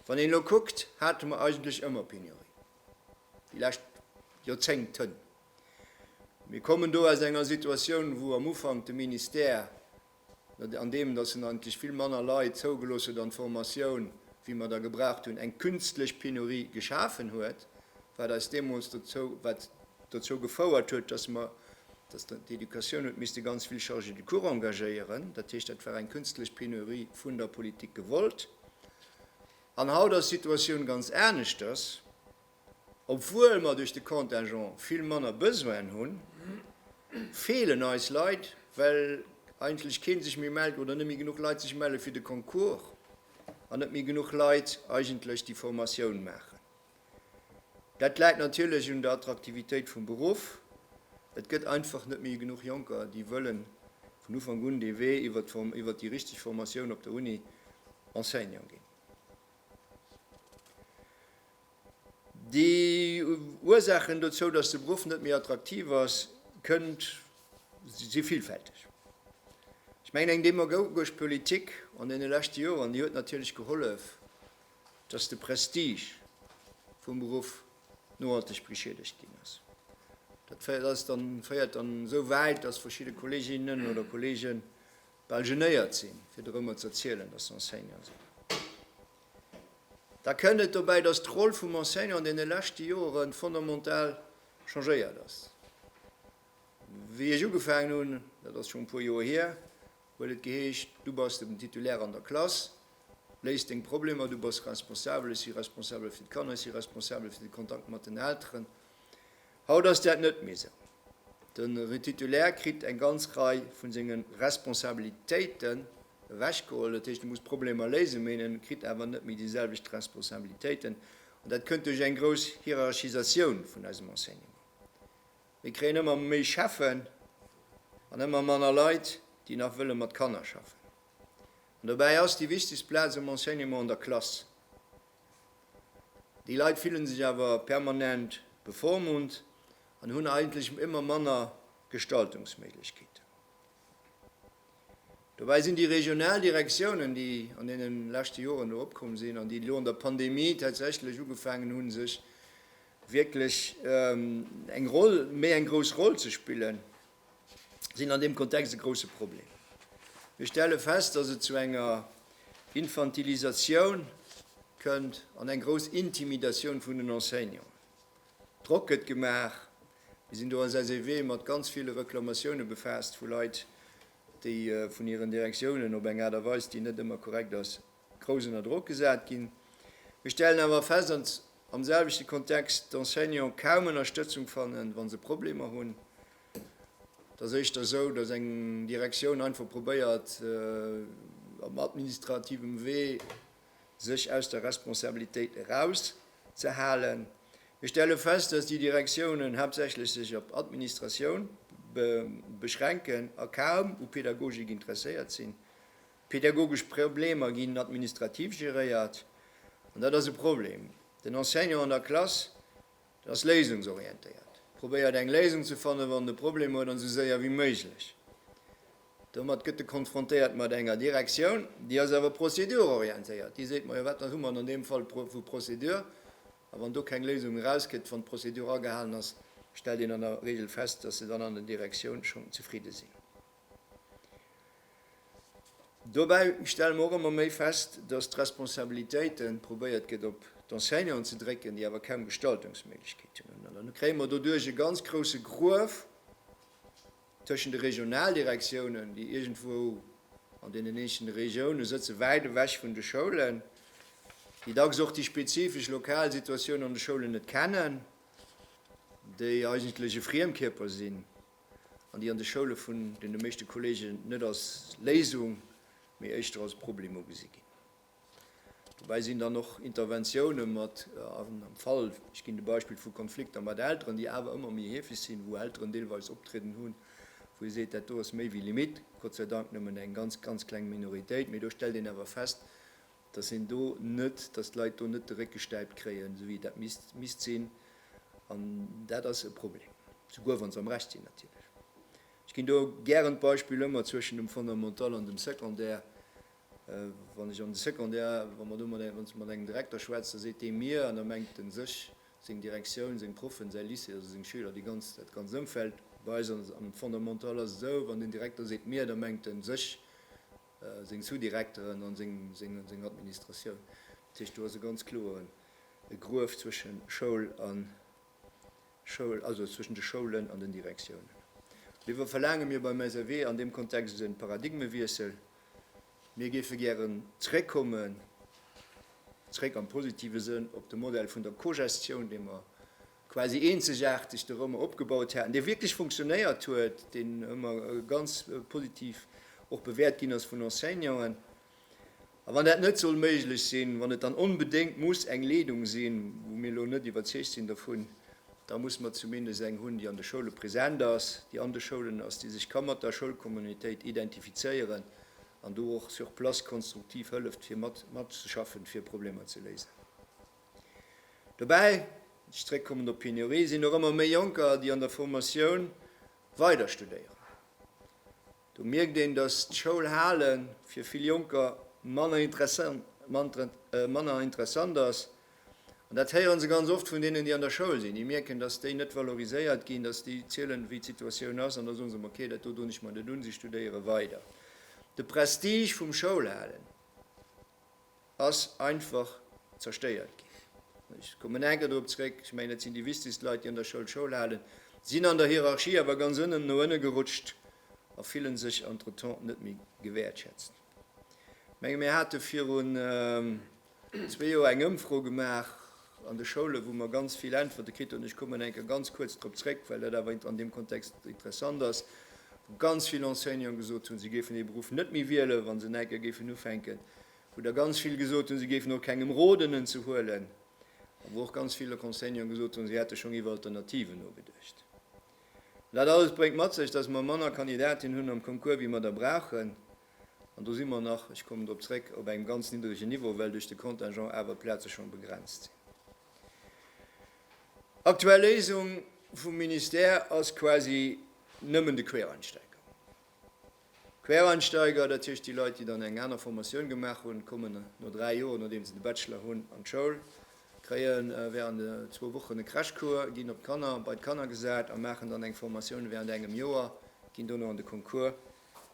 Wann een elo kuckt, hate mer eigentlech ëmmer Penurie, déi lescht Joerzéngten. Mir kommen do aus enger Situatioun, wou am Ufank de Ministère, an deem datt en eigentlech vill manner Leit zougelooss huet an d'Formatioun, wéi mer der gebraucht hunn, eng künstlech Penurie geschafen huet, wat eis deemools dozou, wat dozou gefouert huet, datt mer, datt d'Educatioun huet misste ganz vill Chargés de cours engagéieren. Dat heescht, dat war eng künstlech Penurie vun der Politik gewollt. An haut ass d'Situatioun ganz aneschters. Obwuel mer duerch de Contingent vill manner Besoinen hunn, feelen eis Leit, well eigentlech kee sech méi mellt oder net méi genuch Leit sech melle fir de Concours an net méi genuch Leit eigentlech déi Formatioun maachen. Dat läit natierlech un der Attraktivitéit vum Beruff. Et gëtt einfach net méi genuch Jonker, déi wëlle vun Ufank un dee Wee iwwert déi richteg Formatioun op der Uni Enseignant ginn. Déi Ursaachen dozou, datt de Beruff net méi attraktiv ass, kënnt, si villfälteg. Ech mengen, eng demagogesch Politik an deene leschte Joren, déi huet natierlech gehollef, datt de Prestige vum Beruff nohalteg beschiedegt ginn ass. Dat féiert eis dann, féiert dann esou wäit, datt verschidde Kolleginnen oder Kollege bal genéiert sinn, fir dorëmmer z'erzielen, datt se Enseignant sinn. Da kënnt et dobäi, dass d'Roll vum Enseignant an deene leschte Jore fondamental changéiert ass. Wéi ech ugefaangen hunn, dat ass schonn e puer Joer hier, huet et geheescht, du bass den Titulaire an der Klass, léis deng Problemer, du bass responsabel, ech si responsabel fir d'Kanner, ech si responsabel fir de Kontakt mat den Elteren. Haut ass dat net méi sou. De Retitulaire kritt eng ganz Rei vu senge Responsabilitéiten ewechgeholl. Dat heescht, e muss d'Problemer léisen, mee en kritt awer net méi déi selwecht Responsabilitéiten. An dat kënnt duerch eng grouss Hierarchisatioun vun eisem Enseignement. Mir kréien ëmmer méi Cheffen an ëmmer manner Leit, déi nach wëlle mat Kanner schaffen. An dobäi ass déi wichtegst Plaz am Enseignement an der Klass. Déi Leit fillen sech awer permanent bevormunnt an hunn eigentlech ëmmer manner Gestaltungsméiglechkeeten. Dobäi sinn déi regional Direktiounen, déi an deene leschte Joren do opkomm sinn an déi elo an der Pandemie tatsächlech ugefaangen hunn, sech wierklech eng Roll, méi eng grouss Roll ze spillen, sinn an deem Kontext e grousse Problem. Mir stelle fest, dass et zu enger Infantilisatioun kënnt an eng grouss Intimidatioun vun den Enseignanten. Drock gëtt gemaach. Mir sinn do als SEW mat ganz ville Reklamatioune befaasst vu Leit, déi vun hiren Direktiounen op eng Aart a Weis, déi net ëmmer korrekt ass, grouss ënner Drock gesat ginn. Mir stellen awer fest, dass am selwechte Kontext d'Enseignanten kaum Ënnerstëtzung fannen, wa se Problemer hunn. Et ass éischter esou, dass eng Direktioun einfach probéiert, op administrativem Wee sech aus der Responsabilitéit erauszehalen. Mir stelle fest, dass déi Direktiounen haaptsächlech sech op Administratioun beschränken a kaum u Pädagogik interesséiert sinn. Pedagogesch Problemer ginn administrativ geréiert, an dat ass e Problem. Den Enseignant an der Klass, den ass léisungsorientéiert, probéiert eng Léisung ze fannen, wann en e Problem huet, an esou séier ewéi méiglech. Domat gëtt e konfrontéiert mat enger Direktioun, déi ass awer procédure-orientéiert, déi seet, majo, wat hu mer an deem Fall vu Procédure, a wann do keng Léisung erausgeet, wann d'Procédure agehalen ass, stellt een an der Regel fest, datt se dann an der Direktioun schonn zefridde sinn. Dobäi stelle mer och ëmmer méi fest, datt d'Responsabilitéite probéiert gëtt op d'Enseignanten ze drécken, déi awer kaum Gestaltungsméiglechkeeten hunn. An dann kréie mer doduerch e ganz grousse Gruef tëschent de Regionaldirektiounen, déi iergendwou an deenen eenzelne Regiounen sëtzen, wäit ewech vun de Schoulen, déi dacks och déi spezifesch lokal Situatioun an de Schoulen net kennen, déi eigentlech e Friemkierper sinn. an déi an de Schoule vun deene meeschte Kollegen net als Léisung, mee éischter als Problem ugesi ginn. Dobäi sinn dann och Interventioune mat am Fall, ech ginn de Beispill vu Konflikter mat Elteren, déi awer ëmmer méi heefeg sinn, wou Elteren deelweis optrieden hunn, wou ee seet, dat do ass méi wéi Limitt. Gott sei Dank nëmmen eng ganz, ganz kleng Minoritéit, mee do stellt een awer fest, dass een do net, dass d'Leit do net de Réck gestäipt kréien, esou wéi dat misst, misst sinn. An dat ass e Problem, souguer wa se am Recht sinn natierlech. Ech ginn do gären d'Beispill ëmmer zwëschen dem Fondamental an dem Secondaire. Wann ech an de Secondaire, wa mer do mat engem, wann ech mat engem Direkter schwätz, da seet dee mir, an da mengt en sech, seng Direktioun, seng Proffen, säi Lycée, also seng Schüler, déi ganz, dat ganzt Ëmfeld. Bei eis am Fondamental ass et esou, wann den Direkter seet mir, da mengt en sech, seng Sous-Direkteren a seng Administratioun. Dat heescht, do ass e ganz kloe Gruef zwësche Schoul an Schoul, also zwëschen de Schoulen an den Direktiounen. Dofir verlaange mir beim SRW an deem Kontext e Paradigmewiessel. Mir géife gären zréckkommen, zréck am positive Sënn, op de Modell vun der Cogestioun, dee mer quasi eenzegaarteg de Rëmer opgebaut haten, dee wierklech funktionéiert huet, deen ëmmer ganz positiv och bewäert ginn ass vun Enseignanten. A wann dat net soll méiglech sinn, wann et dann onbedéngt muss eng Leedung sinn, wou mir elo net iwwerzeegt sinn dovun, da muss mer zumindest eng hunn, déi an de Schoule present ass, déi an de Schoulen ass, déi sech ka mat der Schoulcommunautéit identifizéieren an do och sur place konstruktiv hëlleft, fir mat, matzeschaffen, fir Problemer ze léisen. Dobäi, wann ech zréckkommen op d'Pénurie, sinn och ëmmer méi Jonker, déi an der Formatioun weider studéieren. Do mierkt een, dass d'Schoul hale fir vill Jonker manner interessant ass. An dat héiere se ganz oft vun deenen, déi an der Schoul sinn. Déi mierken, dass déi net valoriséiert ginn, dass déi zielen, wéi d'Situatioun ass, an da soen se, ma okay, dat do doen ech mer net un, si studéiere weider. De Prestige vum Schoulhalen. ass einfach zerstéiert ginn. Ech kommen nach eng Kéier dorop zréck, ech mengen, et sinn déi wichtegst Leit, déi an der Schoul Schoul halen, sinn an der Hierarchie awer ganz ënnen no ënne gerutscht a fillen sech entretemps net méi gewäertschätzt. Ech menge mir hate virun zwee Joer eng Ëmfro gemaach, an de Schoule wou mer ganz vill Äntwerte kritt hunn, ech kommen eng Kéier ganz kuerz drop zréck, well dat awer an deem Kontext interessant ass, wou ganz vill Enseignanten gesot hunn, se géifen dee Beruff net méi wielen, wa se enker géifen ufänken, wou der ganz vill gesot hunn, se géifen och kengem roden en ze huelen a wou och ganz vill Enseignanten gesot hunn, se hätte schonn iwwer Alternativen nogeduecht. Dat alles bréngt mat sech, dass mer manner Kandidatinnen hunn am Concours wéi mer der brauchen. an do si mer nach, ech kommen drop zréck, op engem ganz niddregen Niveau, well duerch de Contingent awer d'Plaze schonn begrenzt sinn. Aktuell Léisung vum Ministère ass quasi nëmmen de Quereinsteiger. Quereinsteiger, dat heescht déi Leit, déi dann eng aner Formatioun gemaach hunn, kommen no dräi Joer, nodeem se de Bachelor hunn, an d'Schoul, kréie während zwou Wochen e Crashcours, ginn op d'Kanner, bei d'Kanner gesat a maachen dann eng Formatioun während engem Joer, ginn dono an de Concours.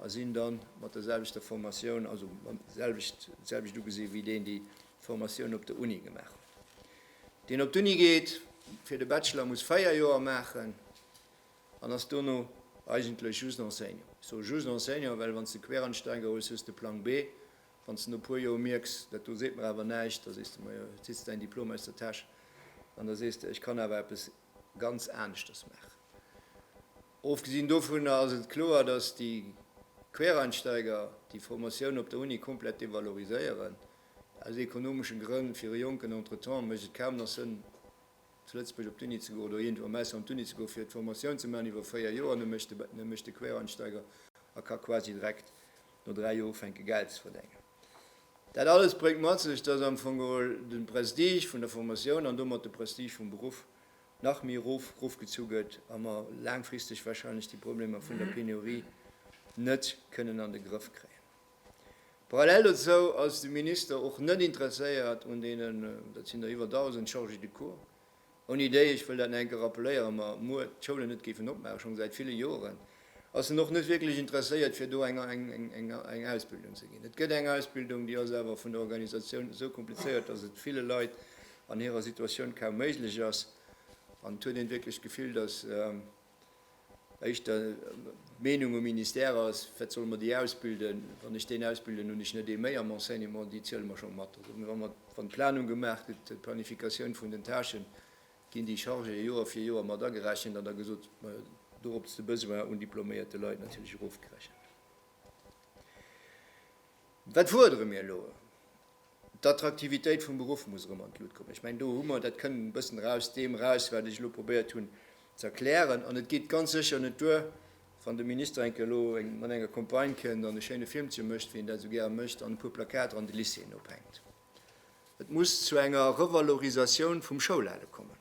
a sinn da mat der selwechter Formatioun, also mam selwecht, d'selwecht ugesi wéi deen, déi d'Formatioun op der Uni gemaach huet. Deen op d'Uni geet fir de Bachelor, muss véier Joer maachen an ass dono eigentlech just Enseignant. Ech soe just Enseignant, well wann s de Quereinsteiger hues, hues de Plang B. Wann s de no e puer Joer mierks, dat do seet mer awer näischt, da sees de, majo, zitt s däin Diplom aus der Täsch an da sees de, ech kann awer eppes ganz aneschters maachen. Ofgesinn dovunner ass et kloer, dass déi Quereinsteiger déi Formatioun op der Uni komplett devaloriséieren. Aus ekonomeschen Grënn, fir e jonken Entretemps mécht et kaum nach Sënn zu Lëtzebuerg op d'Uni ze goen oder iergendwou am Ausland op d'Uni ze goen, fir d'Formatioun ze maachen iwwer 4 Joer. An da mécht de Quereinsteiger a ka quasi direkt no 3 Joer ufänken Geld ze verdengen. Dat alles bréngt mat sech, dass am Fong geholl de Prestige vun der Formatioun an domat de Prestige vum Beruff nach méi erof erofgezu gëtt a mer laangfristeg wahrscheinlech déi Problemer vun der Penurie net kënnen an de Grëff kréien. Parallel dozou ass de Minister och net interesséiert un deenen, dat sinn der iwwer 1.000, Chargés de cours, ouni déi, ech wëll dat nach eng Kéier rappeléieren, mer muer d'Schoulen net géifen opmaachen, schonn säit ville Joren. Ass en och net wierklech interesséiert, fir do eng Ausbildung ze ginn. Et gëtt eng Ausbildung, déi ass awer vun der Organisatioun esou komplizéiert, dass et ville Leit an hirer Situatioun kaum méiglech ass. An et huet een wierklech d'Gefill, dass éischter d'Meenung um Ministère ass, Wat solle mer déi ausbilden? Wann ech deen ausbilden, hunn ech net ee méi am Enseignement, déi ziele mer scho mat. Also, wann d'Planung gemaach gëtt, d'Planifikatioun vun den Tâchen, Ginn déi Chargé Joer fir Joer mat agerechent an da gesot, dorop ass de Besoin un diploméierte Leit natierlech erofgerechent. Wat fuerdere mir elo? D'Attraktivitéit vum Beruff muss erëm an d'Lut kommen. Ech mengen, do hu mer, dat kënnt e bëssen eraus deem eraus, wat ech elo probéiert hunn ze erklären. An et geet ganz sécher net duer, wann de Minister enke elo mat enger Campagne kënnt an e schéine Filmchen mécht, wéi en dat esou gäre mécht, an e puer Plakater an de Lycéeën ophänkt. Et muss zu enger Revalorisatioun vum Schoulale kommen,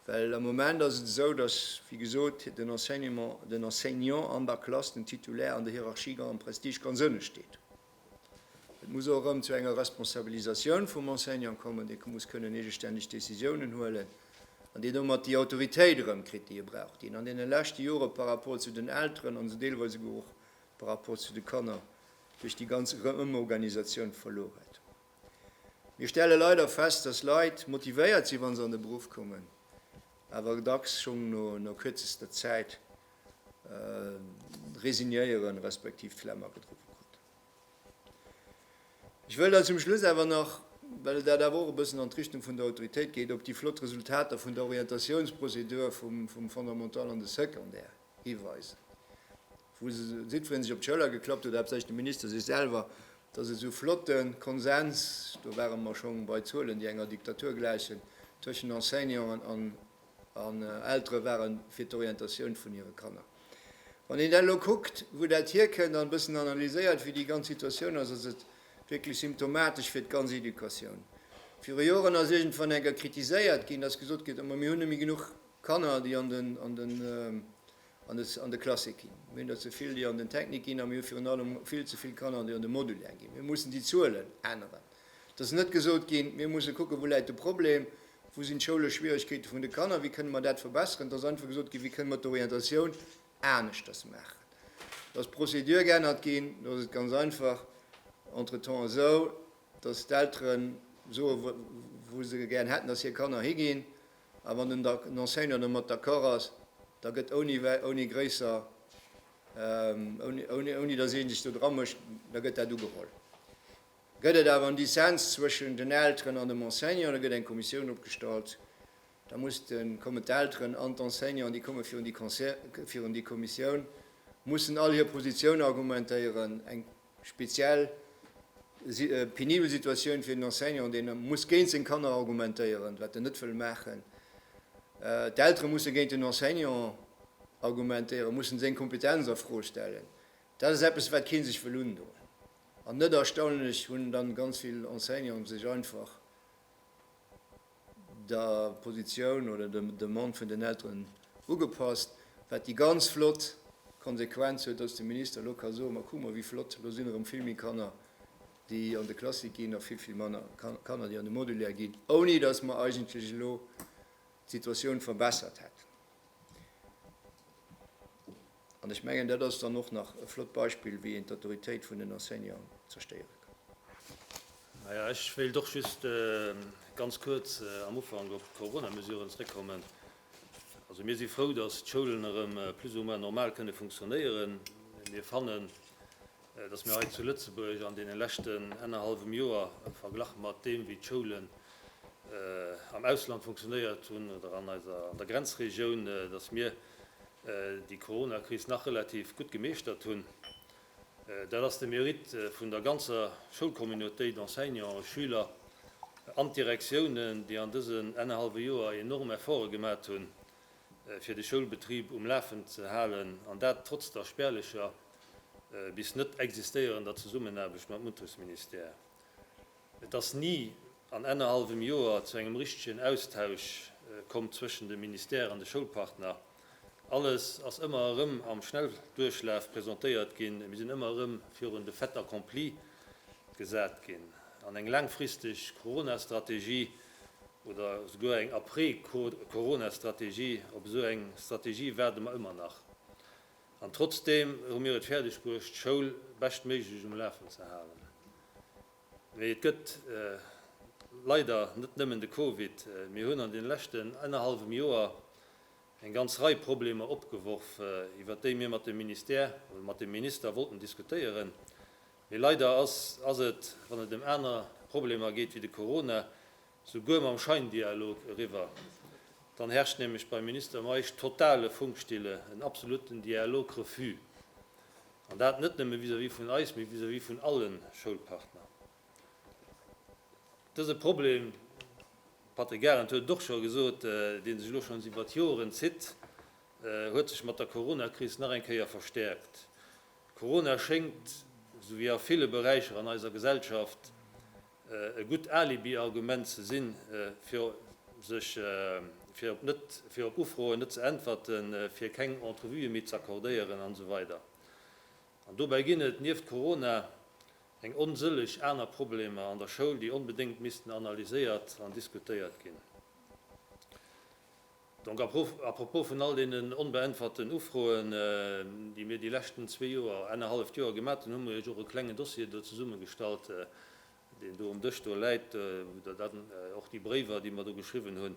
well am Moment ass et esou, dass, wéi gesot, den Enseignement, den Enseignant an der Klass, den Titulaire an der Hierarchie, am Prestige ganz ënne steet. Et muss och erëm zu enger Responsabilisatioun vum Enseignant kommen, dee muss kënnen eegestänneg Décisiounen huelen an deen domat déi Autoritéit erëm kritt, déi e brauch, déi en an deene leschte Jore par rapport zu den Elteren an deelweis esouguer och par rapport zu de Kanner duerch déi ganz Reumorganisatioun verluer huet. Mir stelle leider fest, dass Leit motivéiert si wa se an de Beruff kommen, awer dacks schonn no kürzester Zäit resignéieren, respektiv d'Flemm agedrowe kruten. Ech wëll dann zum Schluss awer nach, well dat awer och e bëssen an d'Richtung vun der Autoritéit geet, op déi flott Resultater vun der Orientatiounsprozedur vum Fondamental an de Secondaire hiweisen. Wou jiddwereen sech op d'Schëller geklappt huet, haaptsächlech de Minister sech selwer, dass e sou flotte Konsens, do ware mer schonn bei Zuelen, déi enger Diktatur gläichen, tëschent Enseignanten an Eltere ware fir d'Orientatioun vun hire Kanner. Wann een dat elo kuckt, wou dat hierkënnt, an e bëssen analyséiert, wéi déi ganz Situatioun ass, ass et wierklech symptomatesch fir d'ganz Educatioun. Viru Joren ass iergendwann eng Kéier kritiséiert ginn, dass gesot gëtt, Mä mir hunn net méi genuch Kanner, déi an de an de Classique ginn. Mir hunn der ze vill, déi an den Technique ginn, a mir hu virun allem vill ze vill Kanner, déi an de Modulaire ginn. Mir mussen déi Zuelen änneren. Et ass net gesot ginn, mir musse kucken, wou läit de Problem, wou sinn d'schoulesch Schwierigkeete vun de Kanner, wéi kënne mer dat verbesseren. Et ass einfach gesot ginn, wéi kënne mer d'Orientatioun aneschters maachen. Do ass d'Procédure geännert ginn. Do ass et ganz einfach entretemps esou, dass d'Elteren soe wou se gären hätten, dass hir Kanner higinn. A wann den Enseignant domat d'accord ass, da gëtt ouni, ouni gréisser, ouni, ouni datt ee sech do dra mécht, da gëtt dat ugeholl. Gëtt et awer en Dissens zwëschen den Elteren an dem Enseignant, da gëtt eng Kommissioun opgestallt, da muss de, kommen d'Elteren an d'Enseignanten, déi komme virun déi, virun déi Kommissioun, mussen all hir Positioun argumentéieren. Eng. Speziell si penibel Situatioun fir den Enseignant, deen muss géint seng Kanner argumentéieren, wat en net wëll maachen. D'Eltere musse géint den Enseignant argumentéieren, mussen seng Kompetenz a Fro stellen. Dat ass eppes, wat kee sech wëll undoen. An net erstaunlech hunn dann ganz vill Enseignanten sech einfach der Positioun oder der Demande vun den Elteren ugepasst, wat déi ganz flott Konsequenz huet, dass de Minister elo ka soen, Ma kuck mol, wéi flott, elo sinn erëm vill méi Kanner, déi an de Classique ginn, a vill, vill manner Kanner, déi an de Modulaire ginn, ouni dass mer eigentlech elo d'Situatioun verbessert hätten. An ech mengen, dat ass dann och nach e flott Beispill, wéi een d'Autoritéit vun den Enseignanten zerstéiere kann. Maja, ech wéilt och just ganz kuerz am Ufank op d'Corona-Mesuren zrëckkommen. Also mir si frou, datt d'Schoulen erëm plus ou moins normal kënne funktionéieren. Mee mir fannen, datt mir hei zu Lëtzebuerg an deene leschten ennerhallwem Joer, verglach mat deem wéi d'Schoulen am Ausland funktionéiert hunn oder an eiser, an der Grenzregioun, datt mir déi Coronakris nach relativ gutt gemeeschtert hunn. Dat ass de Mérite vun der ganzer Schoulcommunautéit, Enseignants, Schüler an d'Direktiounen, déi an dësen ennerhallwe Joer enorm Efforte gemat hunn, fir de Schoulbetrib um Lafen ze halen, an dat trotz der spärlecher bis net existéierender Zesummenaarbecht mam Untersministère. Et ass ni an ennerhallwem Joer zu engem richtegen Austausch komm zwëschen dem Ministère an de Schoulpartner. Alles ass ëmmer erëm am Schnellduerchlaf presentéiert ginn. Mir sinn ëmmer erëm virun de Fait accompli gesat ginn. An eng laangfristeg Corona-Strategie, Oder souguer eng Après-Corona-Strategie. Op esou eng Strategie waarde mer ëmmer nach. An trotzdeem hu mir et fäerdeg bruecht, d'Schoul beschtméiglech um Lafen ze halen. Mee et gëtt leider net nëmmen de Covid. Mir hunn an deene leschten ennerhallwem Joer eng ganz Rei Problemer opgeworf, iwwert déi mir mat dem Ministère oder mat dem Minister wollten diskutéieren. Mee leider ass ass et, wann et ëm aner Problemer geet wéi de Corona, sou guer mam Scheindialog eriwwer. Dann herrscht nämlech beim Minister Meisch totale Funkstille, en absoluten Dialog-Refus. An dat net nëmme vis-à-vis vun eis, mee vis-à-vis vun alle Schoulpartner. Dëse Problem, Patrick Arendt huet et och scho gesot, dee sech elo schonns iwwert Joren zitt, huet sech mat der Corona-Kris nach eng Kéier verstäerkt. Corona schéngt, esou wéi a ville Beräicher an eiser Gesellschaft, e gutt Alibi-Argument ze sinn, fir sech fir op Ufroen net ze äntwerten, fir keng Entrevuë méi z'accordéieren an esou weider An dobäi ginn et nieft Corona eng onsëlleg aner Problemer an der Schoul, déi onbedéngt missten analyséiert an diskutéiert ginn. Donc à propos vun all deenen onbeäntwerten Ufroen, déi mir déi leschten zwee Joer, ennerhalleft Joer gemat hunn, hu mir iech och e klengen Dossier do zesummegestallt, deen do um Dësch do läit, wou der dann och déi Bréiwer, déi mer do geschriwwen hunn,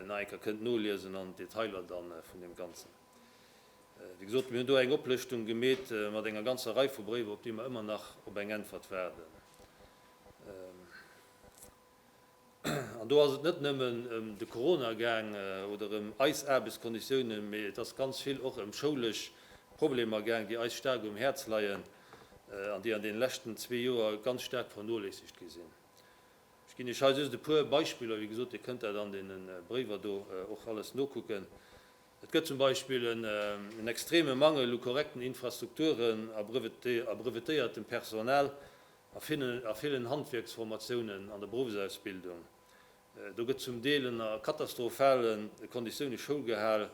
nach eng Kéier kënnt noliesen an d'Detailer da vun deem Ganzen. Wéi gesot, mir hunn do eng Oplëschtung gemeet mat enger ganzer Rei vu Bréiwer, op déi mer ëmmer nach op eng Äntwert waarden. An do ass et net nëmmen ëm de Corona gaang oder ëm eis Aarbechtskonditiounen, mee et ass ganz vill och ëm schoulesch Problemer gaang, déi eis staark um Häerz leien an déi an deene leschten zwee Joer ganz staark vernoléissegt gi sinn. Ech ginn Iech hei just e puer Beispiller. Wéi gesot, Dir kënnt dat an deene Bréiwer do och alles nokucken. Et gëtt zum Beispill en extreme Mangel u korrekten Infrastrukturen a brevetéiertem Personal, A villen Handwierksformatiounen an der Beruffsausbildung, do gëtt zum Deel ënner katastrophale Konditioune Schoul gehal,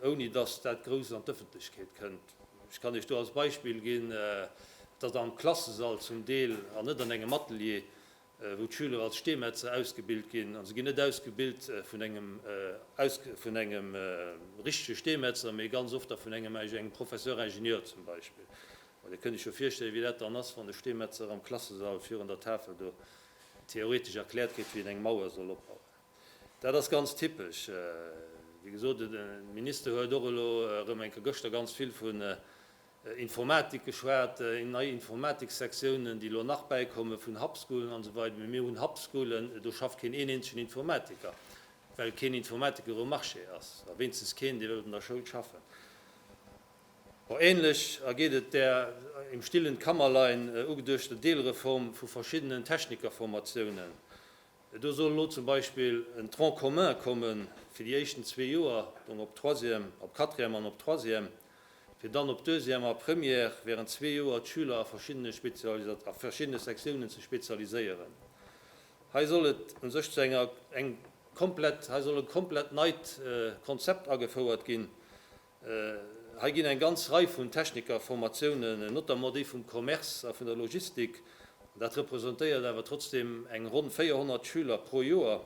ouni datt dat grouss an d'Ëffentlechkeet kënnt. Ech kann Iech do als Beispill ginn, datt am Klassesall zum Deel, an net an engem Atelier, wou d'Schüler als Steemetzer ausgebilt ginn, a se ginn net ausgebilt vun engem richtege Steemetzer, mee ganz oft da vun engem Professeur-Ingenieur zum Beispill, An dir kënnt iech jo virstellen, wéi dat dann ass, wann de Steemetzer am Klassesall virun der Tafel do theoretesch erkläert kritt, wéi en eng Mauer soll opbauen. Dat ass ganz typesch. Wéi gesot, de Minister huet och elo erëm eng Kéier gëschter ganz vill vun Informatik geschwat, nei Informatiksektiounen, déi elo nach bäikommen, vun Hubschoolen an esou weider. Mee mir hunn Hubschoolen, do schafft keen een eenzegen Informatiker, well keen Informatiker um Marché ass, a wéinstens keen, dee wëllt an der Schoul schaffen. Änlech ergeet et der im stillen Kammerlein ugeduechter Deelreform vu verschiddenen Technikerformatiounen. Do soll elo zum Beispill en Tronc commun komme fir déi éischten zwee Joer, dong op Troisième, op Quatrième an op Troisième, fir dann op Deuxième a Première während zwee Joer d'Schüler a verschiddene Spezialisa a verschiddene Sektiounen ze spezialiséieren. Hei soll et u sech zu enger eng komplett hei soll e komplett neit Konzept agefouert ginn, Hei ginn eng ganz Rei vun Technikerformatiounen, notamment déi vum Commerce a vun der Logistik, dat representéiert awer trotzdem eng ronn 400 Schüler pro Joer,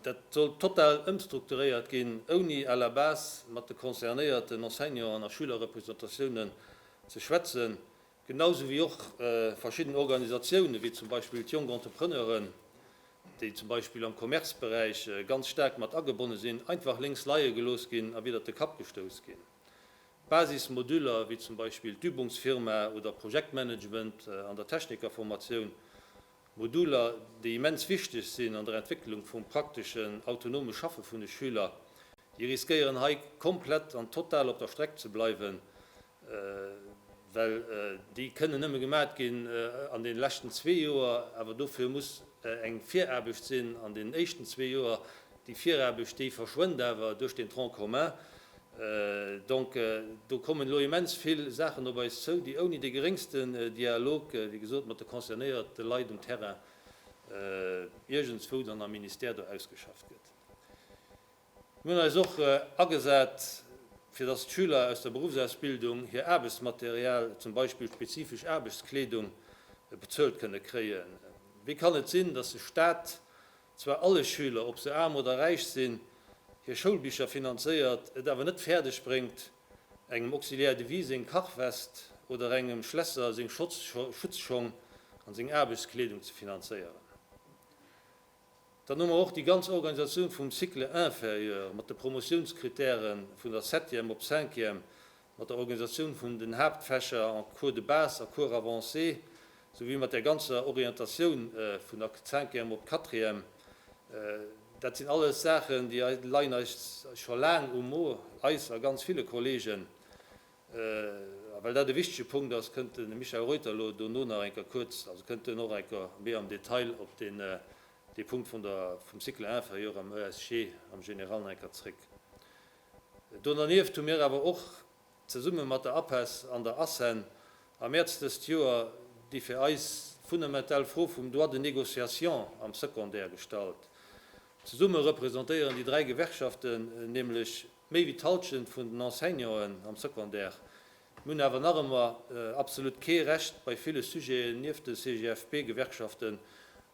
dat soll total ëmstrukturéiert ginn, ouni à la base mat de concernéierten Enseignanten a Schülerrepresentatiounen ze schwätzen. Genauso wéi och verschidden Organisatiounen, wéi zum Beispill d'Jonk Entrepreneuren, déi zum Beispill am Commerceberäich ganz staark mat agebonne sinn, einfach lénks leie gelooss ginn a widder de Kapp gestouss ginn. D'Basismoduler, wéi zum Beispill d'Übungsfirma oder Projektmanagement an der Technikerformatioun, Moduler, déi immens wichteg sinn an der Entwécklung vum prakteschen, autonome Schaffe vun de Schüler, déi riskéieren hei komplett an total op der Streck ze bleiwen, well déi kënnen nëmme gemat ginn an den leschten zwee Joer, awer dofir muss eng Viraarbecht sinn an den éischten zwee Joer. Déi Viraarbecht, déi verschwënnt awer duerch den Tronc commun. Donc, do kommen elo immens vill Saachen op eis zou, déi ouni de geréngste Dialog, wéi gesot, mat de concernéierte Leit um Terrain iergendswou dann am Ministère do ausgeschafft gëtt. Mir hunn eis och agesat, fir dass d'Schüler aus der Berufsausbildung hir Aarbechtsmaterial, zum Beispill spezifesch Aarbechtskleedung, bezuelt kënne kréien. Wéi kann et sinn, dass de Staat zwar alle Schüler, ob se aarm oder räich sinn, hir Schoulbicher finanzéiert, et awer net fäerdeg bréngt, engem Auxiliaire de vie seng Kachwest oder engem Schlässer seng Schutzschong an seng Aarbechtskleedung ze finanzéieren? Dann hu mer och déi ganz Organisatioun vum Cycle inférieur mat de Promotiounskritäre vun der Septième op Cinquième, mat der Organisatioun vun den Haaptfächer en Cours de base a Cours avancé, souwéi mat där ganzer Orientatioun vun der Cinquième op Quatrième. Dat sinn alles Saachen, déi leien eis scho laang um Mo, eis a ganz ville Kolleegen. A well dat e wichtege Punkt ass, kënnt de Michael Reuter elo dono nach eng Kéier kuerz, also kënnt en och eng Kéier méi am Detail op deen, dee Punkt vun der, vum Cycle inférieur am ESG am Général nach eng Kéier zréck. Do dernieft hu mir awer och zesumme mat der APESS an der ACEN am Mäerz dëst Joer déi fir eis fundamental Fro vum Droit de négociation am Secondaire gestallt. Zesumme representéieren déi dräi Gewerkschaften nämlech, Méi wéi d'Halschent vun den Enseignanten am Secondaire hunn awer nach ëmmer absolut kee Recht bei ville Sujeten nieft de CGFP-Gewerkschaften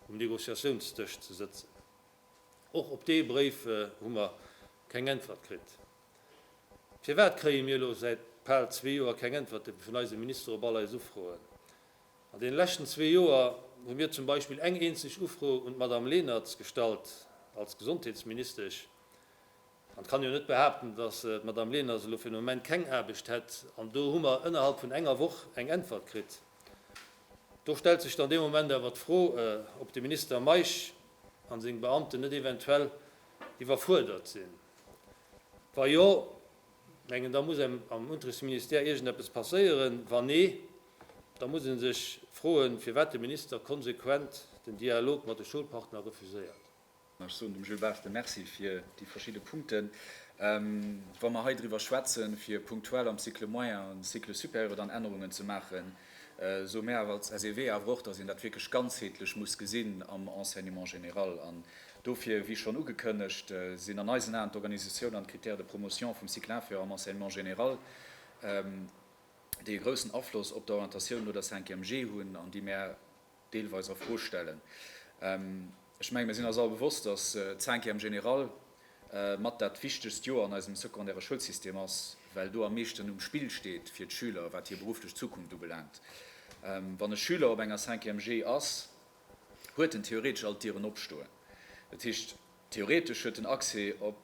um Negociatiounsdësch ze sëtzen. Och op dee Bréif hu mer keng Äntwert kritt. Firwat kréie mir elo säit bal zwee Joer keng Äntwerte vun eisem Minister op all eis Ufroen? An deene leschten zwee Joer hu mir zum Beispill eng eenzeg Ufro un d'Madame Lennertz gestallt als Gesondheetsministesch. An et kann jo net behaapten, datt d'Madame Leners elo fir den Moment keng Aarbecht hätt. An do hu mer ënnerhalb vun enger Woch eng Äntwert kritt. Do stellt sech dann dee Moment awer d'Fro, ob de Minister Meisch a seng Beamten net eventuell iwwerfuerdert sinn. Wa jo, mengen da muss engem am Unterrichtsministère iergendeppes passéieren. Wa nee, da muss ee sech froen, firwat de Minister konsequent den Dialog mat de Schoulpartner refuséiert. Ech soen dem Jules Barthe Merci fir déi verschidde Punkten. Wa mer hei driwwer schwätzen, fir punktuell am Cycle moyen an Cycle supérieur dann Ännerungen ze maachen, soe mär awer als SEW awer och, dass een dat wierklech ganzheetlech muss gesinn am Enseignement général. An dofir, wéi schonn ugekënnegt, sinn an eisen Aen d'Organisatioun an d'Critères de promotion vum Cycle inférieur am Enseignement général, déi e groussen Afloss op d'Orientatioun no der Cinquième G hunn an déi mär, deelweis a Fro stellen. Ech mengen, mir sinn eis all bewosst, dass d'Cinquième général mat dat wichtegst Joer an eisem secondaire Schoulsystem ass, well do am meeschten um Spill steet fir d'Schüler, wat hir berufflech Zukunft ubelaangt. Wann e Schüler op enger Cinquième Gé ass, huet en theoretesch all d'Dieren opstoen. Dat heescht, theoretesch huet en Accès op.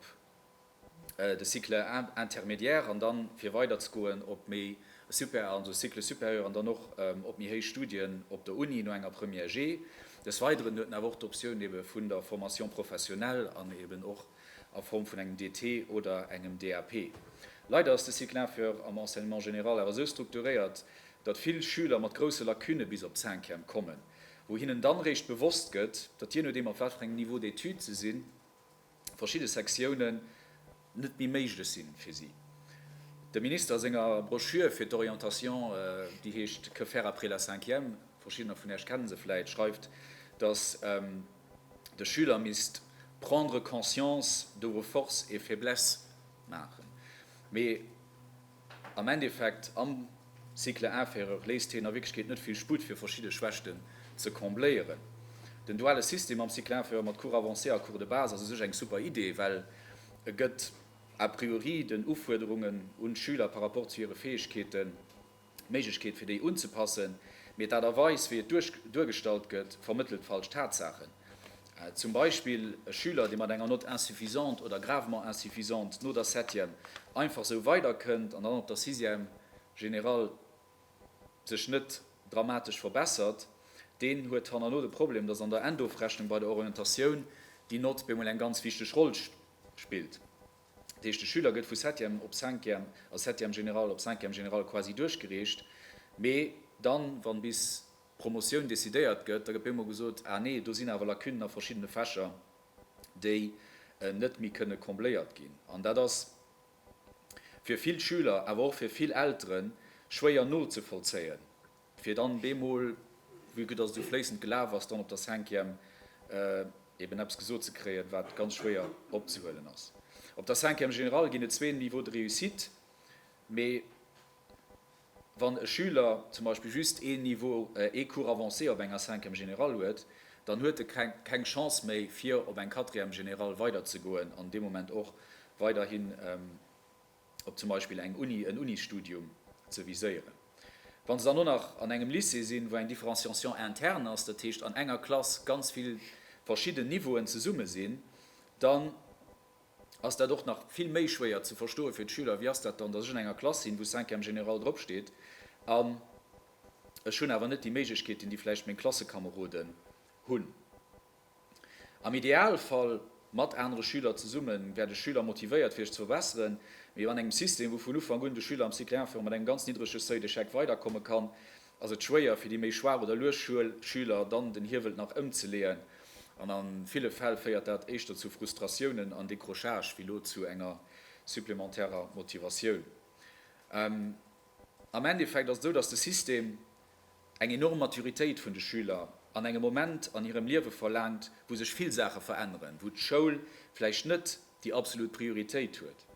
de Cycle intermédiaire an dann fir weider ze goen op méi super, also Cycle supérieur an dann och op méi héich Studien op der Uni no enger Première G. Des Weideren huet en awer och d'Optioun ebe vun der Formation professionnelle an eben och a Form vun engem DT oder engem DAP. Leider ass de Cycle inférieur am Enseignement général awer esou strukturéiert, datt vill Schüler mat grousse Lacunne bis op d'Cinquième kommen, wou hinnen dann réischt bewosst gëtt, datt, jee nodeem op wat fir engem Niveau d'études se sinn, verschidde Sektiounen net méi méiglech si fir si. Dem Minister a senger Broschür fir d'Orientation, déi heescht Que faire après la cinquième? verschiddener vun Iech kenne se vläit, schreift, datt de Schüler misst prendre conscience de vos forces et faiblesses maachen. Mee. Am Endeffekt, am Cycle inférieur léisst heen a Wierklechkeet net vill Sputt fir verschidde Schwächten ze combléieren. Den duale System am Cycle inférieur mat Cours avancés a Cours de base ass u sech eng super Idee, well e gëtt a priori den Ufuerderungen un d'Schüler par rapport zu hire Fäegkeeten d'Méiglechkeet fir déi unzepassen. Mee d'Aart a Weis wéi et duergestallt gëtt, vermëttelt falsch Tatsaachen. Zum Beispill e Schüler, dee mat enger Note insuffisante oder gravement insuffisante no der Septième einfach sou weiderkënnt an dann op der Sixième générale sech net dramatesch verbessert, deen huet hannerno de Problem, dass an der Endofrechnung bei der Orientatioun déi Note bemol eng ganz wichteg Roll spillt. Dat heescht, de Schüler gëtt vu Septième op Cinquième a Septième générale op Cinquième générale quasi duerchgereecht, mee dann, wann bis. Promotioun decidéiert gëtt, da gëtt bemol gesot, ah nee, do sinn awer Lacunen a verschiddene Fächer, déi net méi kënne combléiert ginn. An dat ass fir vill Schüler, awer och fir vill Eltere schwéier nozevollzéien, fir dann bemol, vue que dass et esou fléissend gelaf ass, dann op der Cinquième eben eppes gesot ze kréien, wat ganz schwéier opzehuelen ass. Op der Cinquième générale ginn et zwee Niveaux de réussite, mee. Wann e Schüler zum Beispill just een Niveau, ee Cours avancé op enger Cinquième générale huet, dann huet e keng Chance méi, fir op eng Quatrième générale weiderzegoen an dee Moment och weiderhin op zum Beispill eng Uni, en Unisstudium ze viséieren. Wa se dann och nach an engem Lycée sinn, wou eng Différenciation interne ass, dat heescht an enger Klass ganz vill verschidden Niveauen zesumme sinn, dann ass dat och nach vill méi schwéier ze verstoe fir d'Schüler, wéi ass dat dann, datt ech an enger Klass sinn, wou Cinquième général drop steet, an ech hunn awer net déi Méiglechkeeten, déi vläicht meng Klassekameroden hunn. Am Idealfall, mat anere Schüler zesumme wäert ech Schüler motivéiert, fir sech ze verbesseren, mee an engem System, wou vun Ufank un de Schüler am Cycle 1 virun mat engem ganz niddrege Seuil d'échec weiderkomme kann, ass et schwéier fir déi méi schwaach oder lues Schüler dann den Hiewel nach ëmzeleeën an a ville Fäll féiert dat éischter zu Frustratiounen an Décrochage wéi lo zu enger supplementärer Motivatioun. Am Endeffekt ass et esou, dass de System eng enorm Maturitéit vun de Schüler an engem Moment an hirem Liewe verlaangt, wou sech vill Saache veränneren, wou d'Schoul vläicht net déi absolut Prioritéit huet.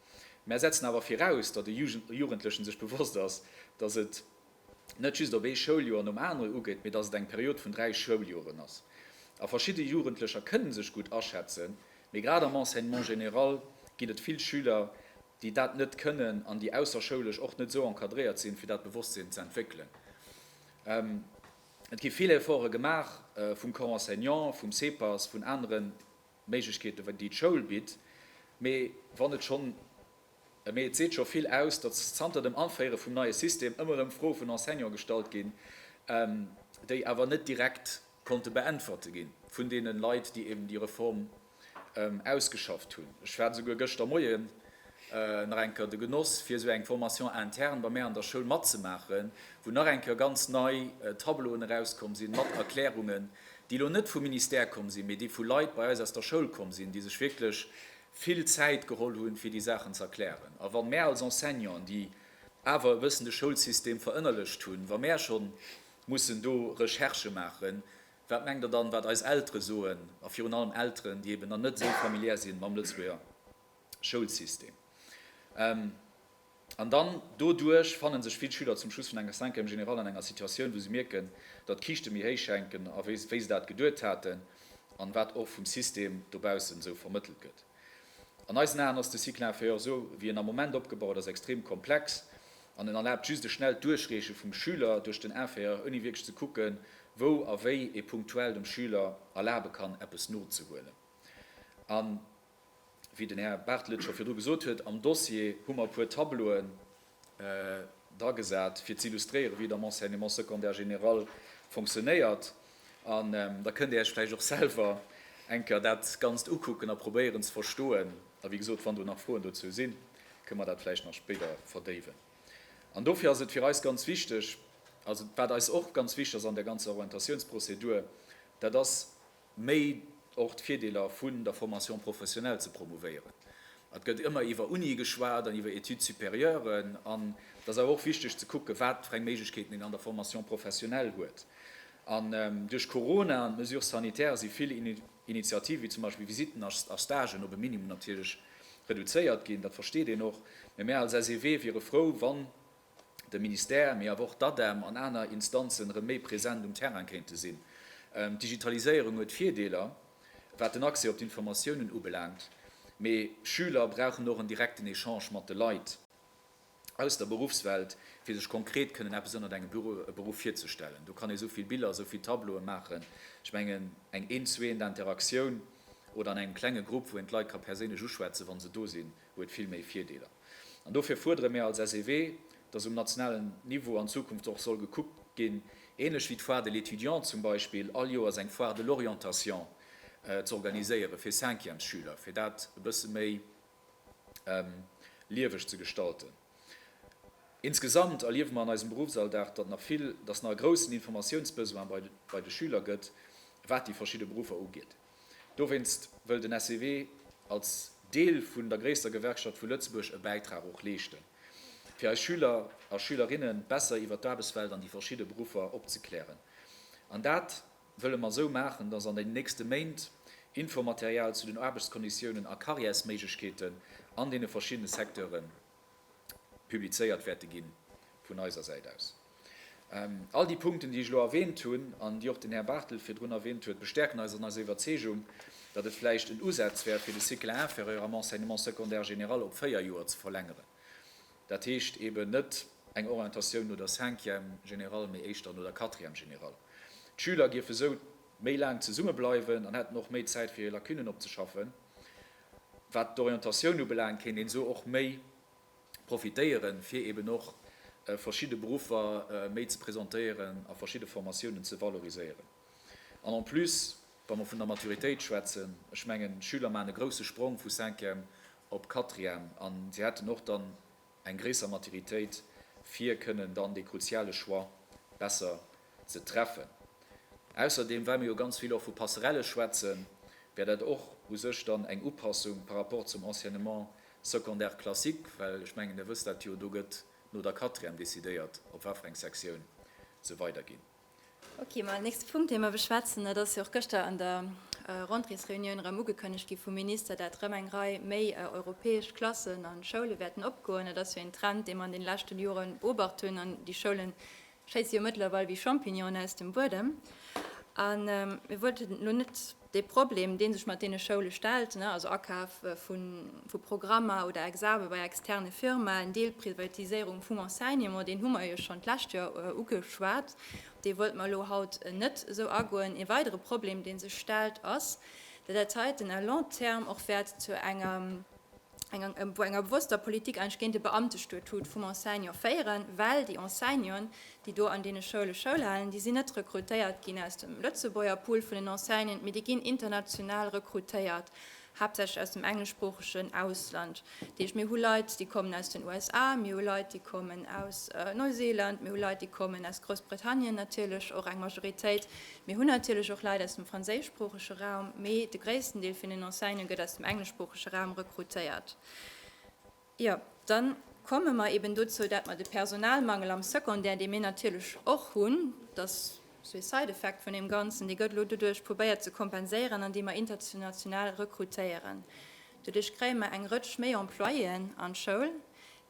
Mär setzen awer viraus, datt e Jugendlechen sech bewosst ass, datt et net just op ee Schouljoer nom anere ugeet, mee datt et eng Period vun dräi Schouljoren ass. A verschidde Jugendlecher kënne sech gutt aschätzen, mee grad am Enseignement général ginn et vill Schüler, déi dat net kënnen an déi ausserschoulesch och net esou encadréiert sinn, fir dat Bewosstsinn ze entwéckelen. Et gi vill Efforte gemaach vum Corps enseignant, vum CEPAS, vun anere Méiglechkeeten, déi d'Schoul bitt, mee wann et schonn Mee et seet scho vill aus, datt zanter dem Anféiere vum neie System ëmmer erëm Froe vun Enseignante gestallt ginn, déi awer net direkt konnte beäntwerte gi vun deene Leit, déi eben déi Reform ausgeschafft hunn. Ech hat esouguer gëschter Moie nach eng Kéier de Genoss, fir esou eng Formation interne bei mär an der Schoul matzemaachen, wou nach eng Kéier ganz nei Tableauen erauskomm sinn, mat Erklärungen, déi elo net vum Ministère komm sinn, mee déi vu Leit bei eis aus der Schoul komm sinn, déi sech wierklech vill Zäit geholl hunn, fir déi Saachen ze erklären. A wa mär als Enseignanten, déi awer e bëssen de Schoulsystem verënnerlecht hunn, wa mär scho mussen do Recherchë maachen, wat mengt Der dann, wat eis Eltere soen, a virun allem Elteren, déi eeben dann net esou familiär si mam Lëtzebuerger Schoulsystem? An dann doduerch fanne sech vill Schüler zum Schluss vun enger Cinquième générale an enger Situatioun, wou se mierken, datt d'Kiischte méi héich hänken, a wéi se dat geduet haten an wat och vum System dobaussen esou vermëttelt gëtt. An eisen Aen ass de Cycle inférieur, esou wéi en am Moment opgebaut ass, extrem komplex an en erlaabt just e schnellt Duerchreeche vum Schüler duerch den Inférieur, ouni wierklech ze kucken, wou a wéi ee punktuell dem Schüler erlabe kann, eppes nozehuelen. An. Wéi den Här Bartelt scho virdru gesot huet, am Dossier hu mer e puer Tableauen dragesat, fir ze illustréieren, wéi et am Enseignement secondaire général fonctionnéiert. An da kënnt Dir Iech vläicht och selwer eng Kéier dat Ganzt ukucken a probéieren ze verstoen. A wéi gesot, wann do nach Froen dozou sinn, kënnen mer dat vläicht nach spéider verdéiwen. An dofir ass et fir eis ganz wichteg, also wat eis och ganz wichteg ass an där ganzer Orientatiounsprozedur, dat ass, Méi och d'Virdeeler vun der Formation professionnelle ze promouvéieren. Et gëtt ëmmer iwwer Unie geschwat an iwwer Études supérieuren. An et ass awer och wichteg ze kucken, wat fir eng Méiglechkeeten een an der Formation professionnelle huet. An duerch Corona an d'Mesures sanitaires si vill Initiativen, wéi zum Beispill Visitten a Stagen, op e Minimum natierlech reduzéiert ginn. Dat versteet een och. Mä mir als SEW wiere frou, wann de Ministère, mee awer och d'ADEM an aner Instanzen erëm méi present um Terrain kéinte sinn. D'Digitaliséierung huet Virdeeler, wat den Accès op d'Informatiounen ubelaangt, mee Schüler brauchen och en direkten Echange mat de Leit aus der Beruffswelt, fir sech konkret kënnen eppes ënnert engem Beruff virzestellen. Do kann ee esou vill Biller, esou vill Tableaue maachen. Ech mengen, eng Eent-zu-Eent-Interaktioun oder an engem klenge Grupp, wou een d'Leit ka perséinlech uschwätzen, wa se do sinn, huet vill méi Virdeeler. An dofir fuerdere mir als SEW, dass um nationalen Niveau an Zukunft och soll gekuckt ginn, ähnlech wéi d'Foire de l'étudiant zum Beispill, all Joers eng Foire de l'orientation z'organiséiere fir Cinquièmesschüler, fir dat e bësse méi lieweg ze gestalten. Insgesamt erliewe mer an eisem Beruffsalldag, datt nach vill, datt nach e groussen Informatiounsbesoin bei de Schüler gëtt, wat déi verschidde Beruffer ugeet. Dowéinst wëll den SEW als Deel vun der gréisster Gewerkschaft vu Lëtzebuerg e Bäitrag och leeschten, fir eis Schüler a Schülerinne besser iwwer d'Aarbechtswelt an déi verschidde Beruffer opzeklären. An dat wëlle mer esou maachen, dass an den nächste Méint Infomaterial zu den Aarbechtskonditiounen a Karriärsméiglechkeeten an deene verschiddene Secteure publizéiert wäerte ginn, vun eiser Säit aus. All déi Punkten, déi ech elo erwähnt hunn an déi och den Här Bartelt virdrun erwähnt huet, bestärken eis an eiser Iwwerzeegung, datt et vläicht en Usaz wär, fir de Cycle inférieur am Enseignement secondaire général op véier Joer ze verlängeren, dat heescht eeben net eng Orientatioun no der Cinquième générale, mee éischter no der Quatrième générale. D'Schüler géife sou méi laang zesummebleiwen an hätten och méi Zäit, fir hir Lacunen opzeschaffen. Wat d'Orientatioun ubelaangt, kéint een esou och méi profitéieren, fir eben och verschidde Beruffer méi ze presentéieren a verschidde Formatiounen ze valoriséieren. An en plus, wa mer vun der Maturitéit schwätzen, ech mengen, Schüler maachen e grouse Sprong vu Cinquième op Quatrième an si hätten och dann, eng gréisser Maturitéit fir kënnen dann dee kruziale Choix besser ze treffen. Ausserdeem, well mer jo ganz vill och vu Passerelle schwätzen, wär dat och u sech dann eng Upassung par rapport zum Enseignement secondaire classique, well ech mengen, Der wësst dat jo, do gëtt no der Quatrième decidéiert, op wat fir eng Sektioun se weiderginn. Ok, ma nächste Punkt dee mer beschwätzen, dat ass jo och gëschter an der Rentréesreunioun erëm ugekënnegt gi vum Minister, dat erëm eng Rei méi europäesch Klassen a Schoule wäerten opgoen. Dat ass jo een Trend, dee mer an deene leschten Jore beobacht hunn. An déi Schoule schéisse jo mëttlerweil wéi Champignonen aus dem Buedem. A mir wollten elo net. De Problem, dee sech mat deene Schoule stellt, also Akaf vu Programmer oder Exame bei externe Firmaen, Deelprivatiséierung vum Enseignement, deen hu mer jo schonn d'lescht Joer ugeschwat, op dee wollte mer elo haut net esou agoen. Ee weidere Problem, dee sech stellt, ass, datt dat heiten à long terme och wäert zu engem, enger bewosster Politik eigentlech géint de Beamtestatut vum Enseignant féieren, well déi Enseignanten, déi do an deene Schoule Schoul halen, déi sinn net rekrutéiert ginn aus dem Lëtzebuerger Pool vun den Enseignanten, mee déi ginn international rekrutéiert, haaptsächlech aus dem engleschsproochegen Ausland. Dat heescht, mir hu Leit, déi kommen aus den USA, mir hu Leit, déi kommen aus Neuseeland, mir hu Leit, déi kommen aus Groussbritannien, natierlech och eng Majoritéit, Mir hunn natierlech och Leit aus dem franséischsproochege Raum, mee de gréissten Deel vun den Enseigne gëtt aus dem engleschsproochege Raum rekrutéiert. Jo, da komme mer eben dozou, dat mer de Personalmangel am Secondaire, dee mir natierlech och hunn, dat ass esou ee Side-effect vun deem Ganzen, dee gëtt elo doduerch probéiert ze kompenséieren, andeem mer international rekrutéieren. Doduerch kréie mer eng Rëtsch méi Employéen an d'Schoul,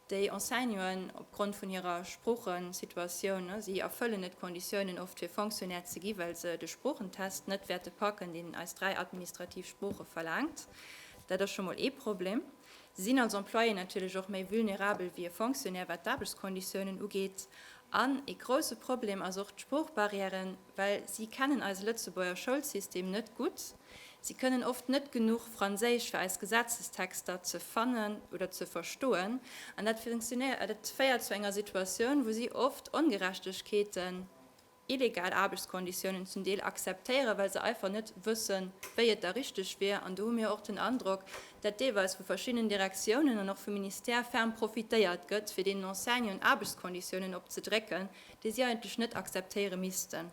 Déi Enseignuen, opgrond vun hirer Sproochensituatioun, si erfëllen net d'Konditiounen oft fir Fonctionnaire ze gi well se de Sproochentest net wäerte packen, deen eis dräi administrativ Sprooche verlaangt. Dat ass scho mol ee Problem. Si sinn als Employé natierlech och méi vulnerabel wéi e Fonctionnaire wat d'Aarbechtskonditiounen ugeet. An ee grousse Problem ass och d'Sproochbarrière. well si kennen eise Lëtzebuerger Schoulsystem net gutt, si kënnen oft net genuch Franséisch fir eis Gesetzestexter ze fannen oder ze verstoen, an dat féiert zu enger Situatioun, wou si oft Ongerechtegkeeten, illegal Aarbechtskonditiounen zum Deel akzeptéieren, well se einfach net wëssen, wéi et da richteg wier. An do hu mir och den Androck, dat deelweis vu verschiddenen Direktiounen an och vum Ministère ferm profitéiert gëtt, fir deenen Enseignanten Aarbechtskonditiounen opzedrécken, dee si eigentlech net akzeptéiere missten.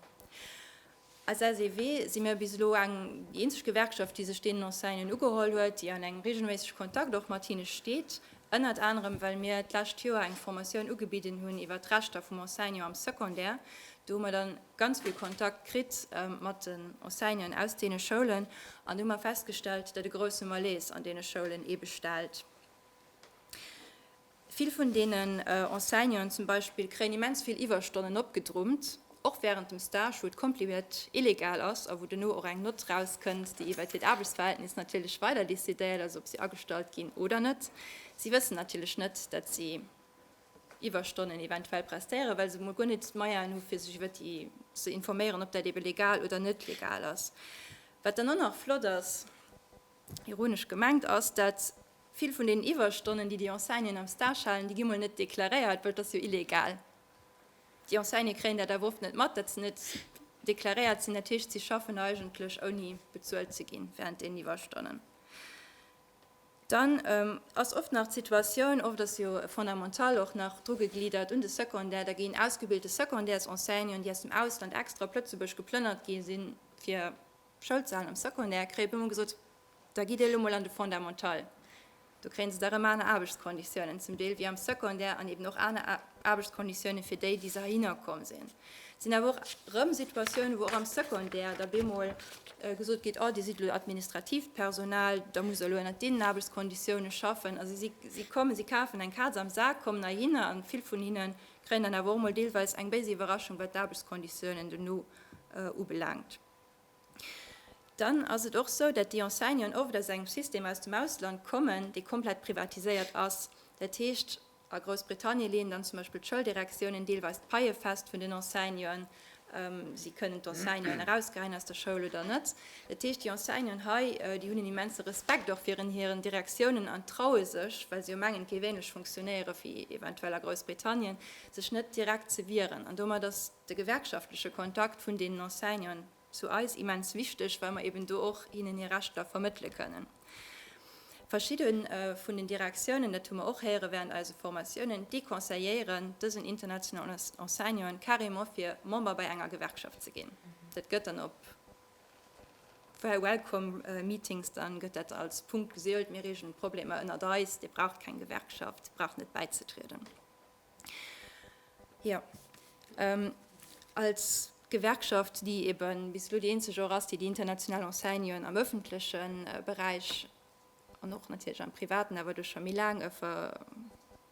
Als SEW si mir bis elo eng, déi eenzeg Gewerkschaft, déi sech deenen Enseignen ugeholl huet, déi an engem reegelméissege Kontakt och mat hinne steet, ënnert anerem well mir d'lescht Joer eng Formatioun ugebidden hunn iwwert d'Rechter vum Enseignant am Secondaire. Do hu mer dann ganz vill Kontakt kritt mat den Enseignanten aus deene Schoulen an do hu mer festgestellt, datt e grousse Malaise an deene Schoulen ee bestellt. Vill vun deenen Enseignanten zum Beispill kréien immens vill Iwwerstonnen opgedrummt, och wärend dem Stage, wou et kompleet illegal ass a wou duerno och eng Nott erauskënnt, déi iwwert hiert Aarbechtsverhältnis natierlech weider decidéiert, also ob si agestallt ginn oder net. Si wëssen natierlech net, datt si Iwwerstonnen eventuell prestéieren, well se emol guer net d'Moyenë hu fir sech iwwert déi ze informéieren, ob dat ebe legal oder net legal ass. Wat dann och nach flott ass. Ironesch gemengt ass, dat vill vun deenen Iwwerstonnen, déi déi Enseignanten am Stage halen, déi gi mol net deklaréiert, well et ass jo illegal. Déi Enseignanten kréien dat awer oft net mat, dat se net deklaréiert sinn. Dat heescht, si schaffen eigentlech ouni bezuelt ze ginn wärend deenen Iwwerstonnen. Dann ass oft nach d'Situatioun, oft ass jo e Fondamental och nach drugegliddert un de Secondaire, da ginn ausgebilte Secondaires-Enseignanten, déi aus dem Ausland extra op Lëtzebuerg geplënnert gi sinn, fir Schoulzalen am Secondaire kréie puer mol gesot, da gitt dir elo mol an de Fondamental, do kréien se da rëm aner Aarbechtskonditiounen zum Deel wéi am Secondaire an eben och aner Aarbechtskonditiounen fir déi, déi se heihinner komm sinn. Et sinn awer och rëm Situatiounen, wou och am Secondaire da bemol gesot gétt, oh dir sidd elo administratiivt Personal, da musst der elo ënnert deenen Aarbechtskonditiounen schaffen. Also si, si kommen, si kafen eng Kaz am Sak, kommen heihinner an vill vun hinne kréien dann awer och mol deelweis eng béis Iwwerraschung, wat d'Aarbechtskonditiounen dono ubelaangt. dann ass et och esou, datt déi Enseignanten oft aus engem System aus dem Ausland kommen, dee komplett privatiséiert ass. Dat heescht, a Groussbritannie leeën dann zum Beispill d'Schouldirektiounen deelweis d'Paie fest vun den Enseignanten, si kënnen d'Enseignanten erausgeheien aus der Schoul oder net. Dat heescht, déi Enseignanten hei, déi hunn en immense Respekt och virun hiren Direktiounen an traue sech, well se jo mengen, et géif änlech funktionéiere wéi eventuell a Groussbritannien, sech net direkt ze wieren. An domat ass. de gewerkschaftleche Kontakt vun deenen Enseignanten zu eis immens wichteg, well mer eben do och hinnen hir Rechter vermëttele kënnen. Verschidde vun den Direktiounen, dat hu mer och héiere während eise Formatiounen, deconseilléieren dësen internationalen Enseignanten carrément fir Member bei enger Gewerkschaft ze ginn. Dat gëtt dann op Fair Welcome Meetings dann gëtt dat als Punkt geseelt, mir reegelen d'Problemer ënnert eis, dir braucht keng Gewerkschaft, dir braucht net bäizetrieden. Jo, als Gewerkschaft, déi eben bis elo déi eenzeg och ass, déi déi international Enseignen am ëffentleche Beräich an och natierlech am Privaten, awer do scho méi laang,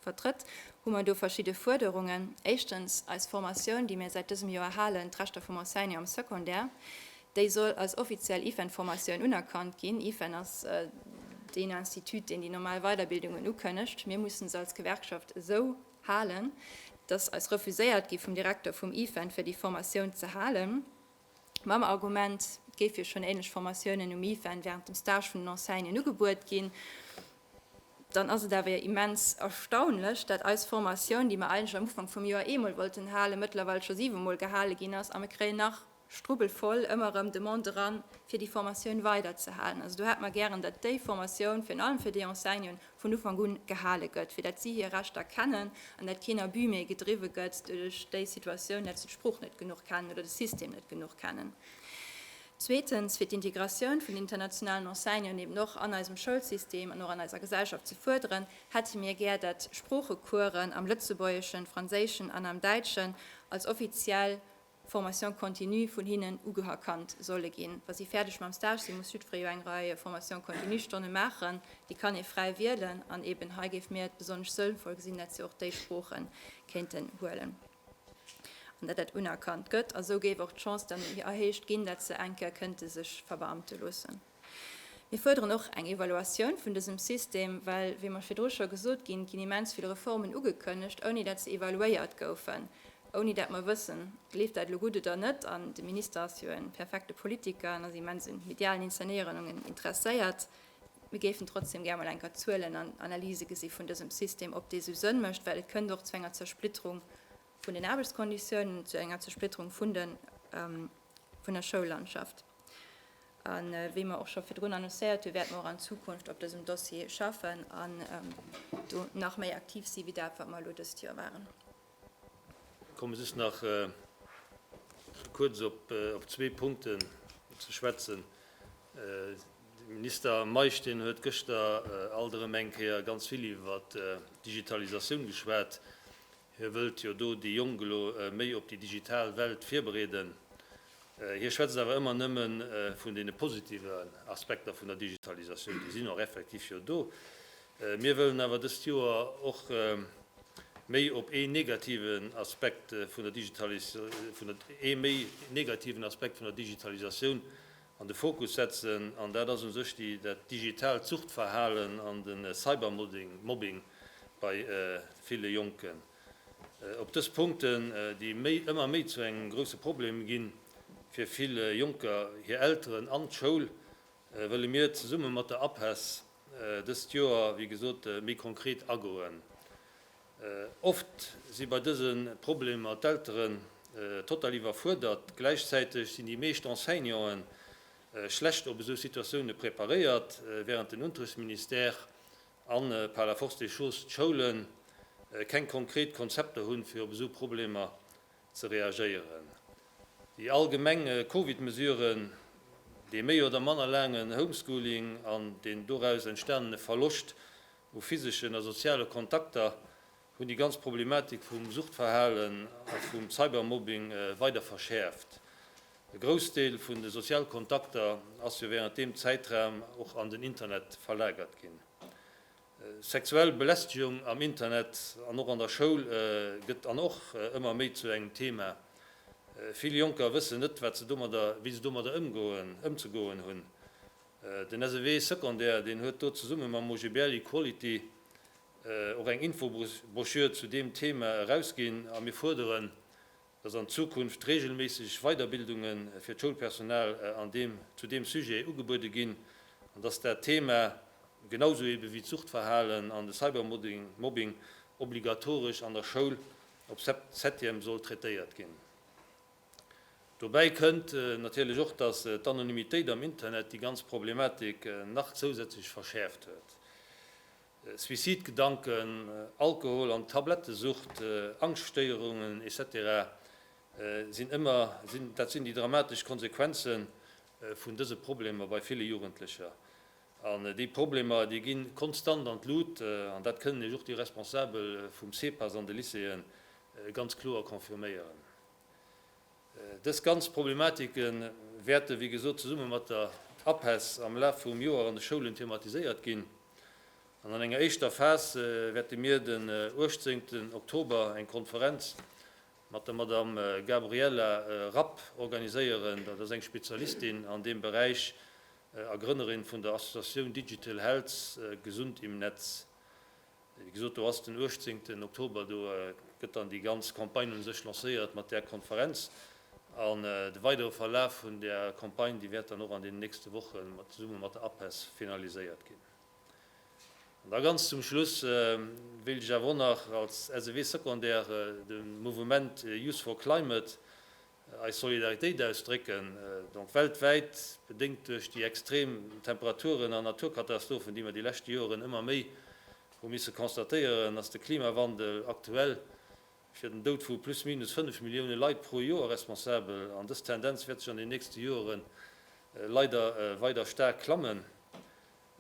vertrëtt, hu mer do verschidde Fuerderungen. Éischtens eis Formatioun, déi mir säit dësem Joer halen, d'Rechter vum Enseignant am Secondaire, Déi soll als offiziell IFEN-Formatioun unerkannt ginn. IFEN ass deen Institut, deen déi normal Weiderbildungen ukënnegt. Mir mussen se als Gewerkschaft esou halen. Et ass eis refuséiert gi vum Direkter vum IFEN, fir déi Formatioun ze halen, mam Argument, et géif jo schonn änlech Formatiounen um IFEN wärend dem Stage vun den Enseignanten ugebuet ginn. Dann ass et awer jo immens erstaunlech, dat eis Formatioun, déi mer eigentlech am Ufank vum Joer eemol wollten halen, mëttlerweil scho siwemol gehale ginn ass a mir kréien nach Strubbel voll ëmmer erëm Demande eran, fir déi Formatioun weiderzehalen. Also do hätte mer gären, datt déi Formatioun, virun allem fir déi Enseignanten, vun Ufank un gehale gëtt, fir datt si hir Rechter kennen an datt keen Abus méi gedriwwe gëtt duerch déi Situatioun, datt se d'Sprooch net genuch kennen oder de System net genuch kennen. Zweetens, fir d'Integratioun vun den internationalen Enseignanten eben och an eisem Schoulsystem an och an eiser Gesellschaft ze fuerderen, hätte mir gär, datt Sproochecoursen am Lëtzebuergeschen, Franséischen an am Däitschen als offiziell Formation continue vun hinnen ugeherkannt solle ginn. Wa si fäerdeg mam Stage sinn, muss jiddweree jo eng Rei Formation continue-Stonne maachen. Déi kann ee fräi wielen an eeben hei géife mir et besonnesch sënnvoll gesinn, dat se och déi Sprooche kéinten huelen an dat dat unerkannt gëtt. A sou géif och d'Chance dann erhéicht ginn, dat se enke kënnte sech verbeamte loossen. Mir fuerderen och eng Evaluatioun vun dësem System, well, wéi mer virdru scho gesot ginn, ginn immens vill Reformen ugekënnegt, ouni datt se evaluéiert goufen, ouni datt mer wëssen, leeft dat elo gutt oder net. An de Minister ass jo e perfekte Politiker an ass immens un medialen Inzernéierungen interesséiert. Mir géifen trotzdeem gär mol eng Kéier Zuelen an Analyse gesi vun dësem System, ob dee sou Sënn mécht, well et kënnt och zu enger Zersplitterung vun den Aarbechtskonditiounen zu enger Zersplitterung vun der Schoullandschaft. A wéi mer och scho virdrun annoncéiert hunn, wäerte mer och an Zukunft op dësem Dossier schaffen an do nach méi aktiv si wéi dat, wat mer elo dëst Joer waren. Ech komme just nach kuerz op zwee Punkten ze schwätzen. De Minister Meisch, deen huet gëschter alt erëm eng Kéier ganz vill iwwer d'Digitalisatioun geschwat. Hie wëllt jo do déi Jonk elo méi op déi digital Welt virbereeden. Hie schwätzt awer ëmmer nëmme vun deene positiven Aspekter vun der Digitalisatioun. Déi sinn och effektiv jo do. Mir wëllen awer dëst Joer och méi op ee negativen Aspekt vun der Digitalisatioun an de Fokus setzen, an dat ass u sech déi dat digitaalt Suchtverhalen an de Cybermobbing bei ville Jonken. Op dës Punkten, déi méi ëmmer méi zu engem grousse Problem ginn, fir vill Jonker, hir Elteren an d'Schoul, wëlle mir zesumme mat der APESS dëst Joer, wéi gesot, méi konkret agoen. Oft si bei dëse Problemer d'Elteren total iwwerfuerdert. Gläichzäiteg sinn déi meescht Enseignanten schlecht op esou Situatioune preparéiert. Wärend den Unterrichtsministère a par la force des choses d'Schoule keng konkret Konzepter hunn, fir op esou Problemer ze reagéieren. Déi allgemeng Covid-Mesuren, dee méi oder manner laangen Homeschooling an den doraus entstanene Verloscht U physeschen a soziale Kontakter hunn déi ganz Problematik vum Suchtverhalen a vum Cybermobbing weider verschäerft. E Groussdeel vun de sozial Kontakter ass jo wärend deem Zäitraum och an den Internet verlagert ginn. Sexuell Belästegung am Internet an och an der Schoul gëtt an och ëmmer méi zu engem Thema. Vill Jonker wëssen net, wat se domadder, wéi se domadder ëmgoen, ëmzegoen hunn. Den SEW Secondaire, deen huet do zesumme mam OGBL Equality och eng Infobroschür zu deem Thema erausginn a mir fuerderen, dass an Zukunft regelméisseg Weiderbildunge fir d'Schoulpersonal an deem zu deem Sujet ugebuede ginn an dass dat Thema, genausou ebe wéi d'Suchtverhalen an de Cybermobbing, obligatoresch an der Schoul op Septième soll traitéiert ginn. Dobäi kënnt natierlech och, datt d'Anonymitéit am Internet déi ganz Problematik nach zousätzlech verschäerft huet. Suicidgedanken, Alkohol an Tablettesucht, Angschtstéierungen, etc. Sinn ëmmer dat sinn déi dramatesch Konsequenze vun dëse Problemer bei ville Jugendlecher. An déi Problemer, déi gi konstant an d'Lut, an dat kënnen Iech och déi Responsabel vum CPAS an de Lycéeë ganz kloer confirméieren. Dës ganz Problematike wäerte wéi gesot zesumme mat der APESS am Laf vum Joer an de Schoulen thematiséiert ginn. An an enger éischter Phas wäerte mir den 18 Oktober eng Konferenz mat der Madamm Gabriella Rapp organiséieren. Dat ass eng Spezialistin an deem Beräich a Grënnerin vun der Associatioun Digital Health, Gesund im Netz. Wéi gesot, do ass den uechtzéngten Oktober, do gëtt dann déi ganz Campagne u sech lancéiert mat där Konferenz. An de weidere Verlaf vun där Campagne, déi wäert dann och an deenen nächste Woche zesumme mat der APESS finaliséiert ginn. An da ganz zum Schluss wéilt ech awer och nach als SEW-Secondaire de Mouvement Youth for Climate eis Solidaritéit ausdrécken, donc weltwäit, bedéngt duerch déi extrem Temperaturen an Naturkatastrophen, déi mer déi leschte Joren ëmmer méi hu misse constatéieren, ass de Klimawandel aktuell fir den Doud vu plus minus fënnef Millioune Leit pro Joer responsabel. An dës Tendenz wäert sech an den nächste Joren leider weider staark klammen.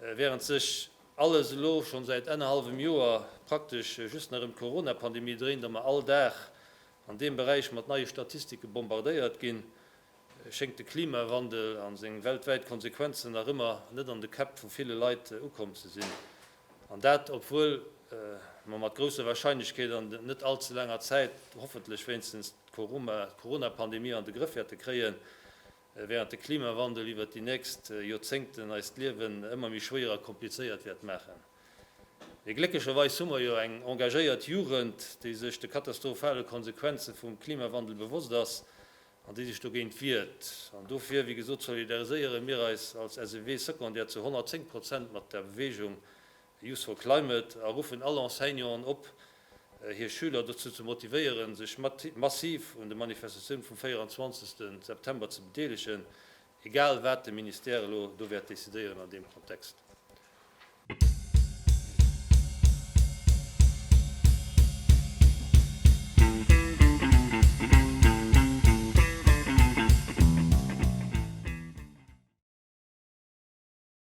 Während sech alles elo schonn säit ennerhallwem Joer praktesch just nach ëm d'Corona-Pandemie dréint a mer all Dag an deem Beräich mat neie Statistike bombardéiert ginn, schéngt de Klimawandel a seng weltwäit Konsequenzen nach ëmmer net an de Käpp vu ville Leit ukomm ze sinn. An dat obwuel mer mat grousser Warscheinlechkeet an net all ze laanger Zäit hoffentlech wéinstens d'Corona-Pandemie an de Grëff wäerte kréien. Während de Klimawandel iwwert déi nächst Joerzéngten eist Liewen ëmmer méi schwéier a komplizéiert wäert maachen, mee glécklecherweis hu mer jo eng engagéiert Jugend, déi sech de katastrophale Konsequenze vum Klimawandel bewosst ass an déi sech dogéint wiert. An dofir, wéi gesot, solidariséiere mir eis als SEW secondaire zu 110 Prozent mat der Beweegung Youth for Climate a ruffen all Enseignanten op, hir Schüler dozou ze motivéieren, sech massiv un de Manifestatioune vum 24. September ze bedeelegen, egal wat de Ministère elo do wäert decidéieren an deem Kontext.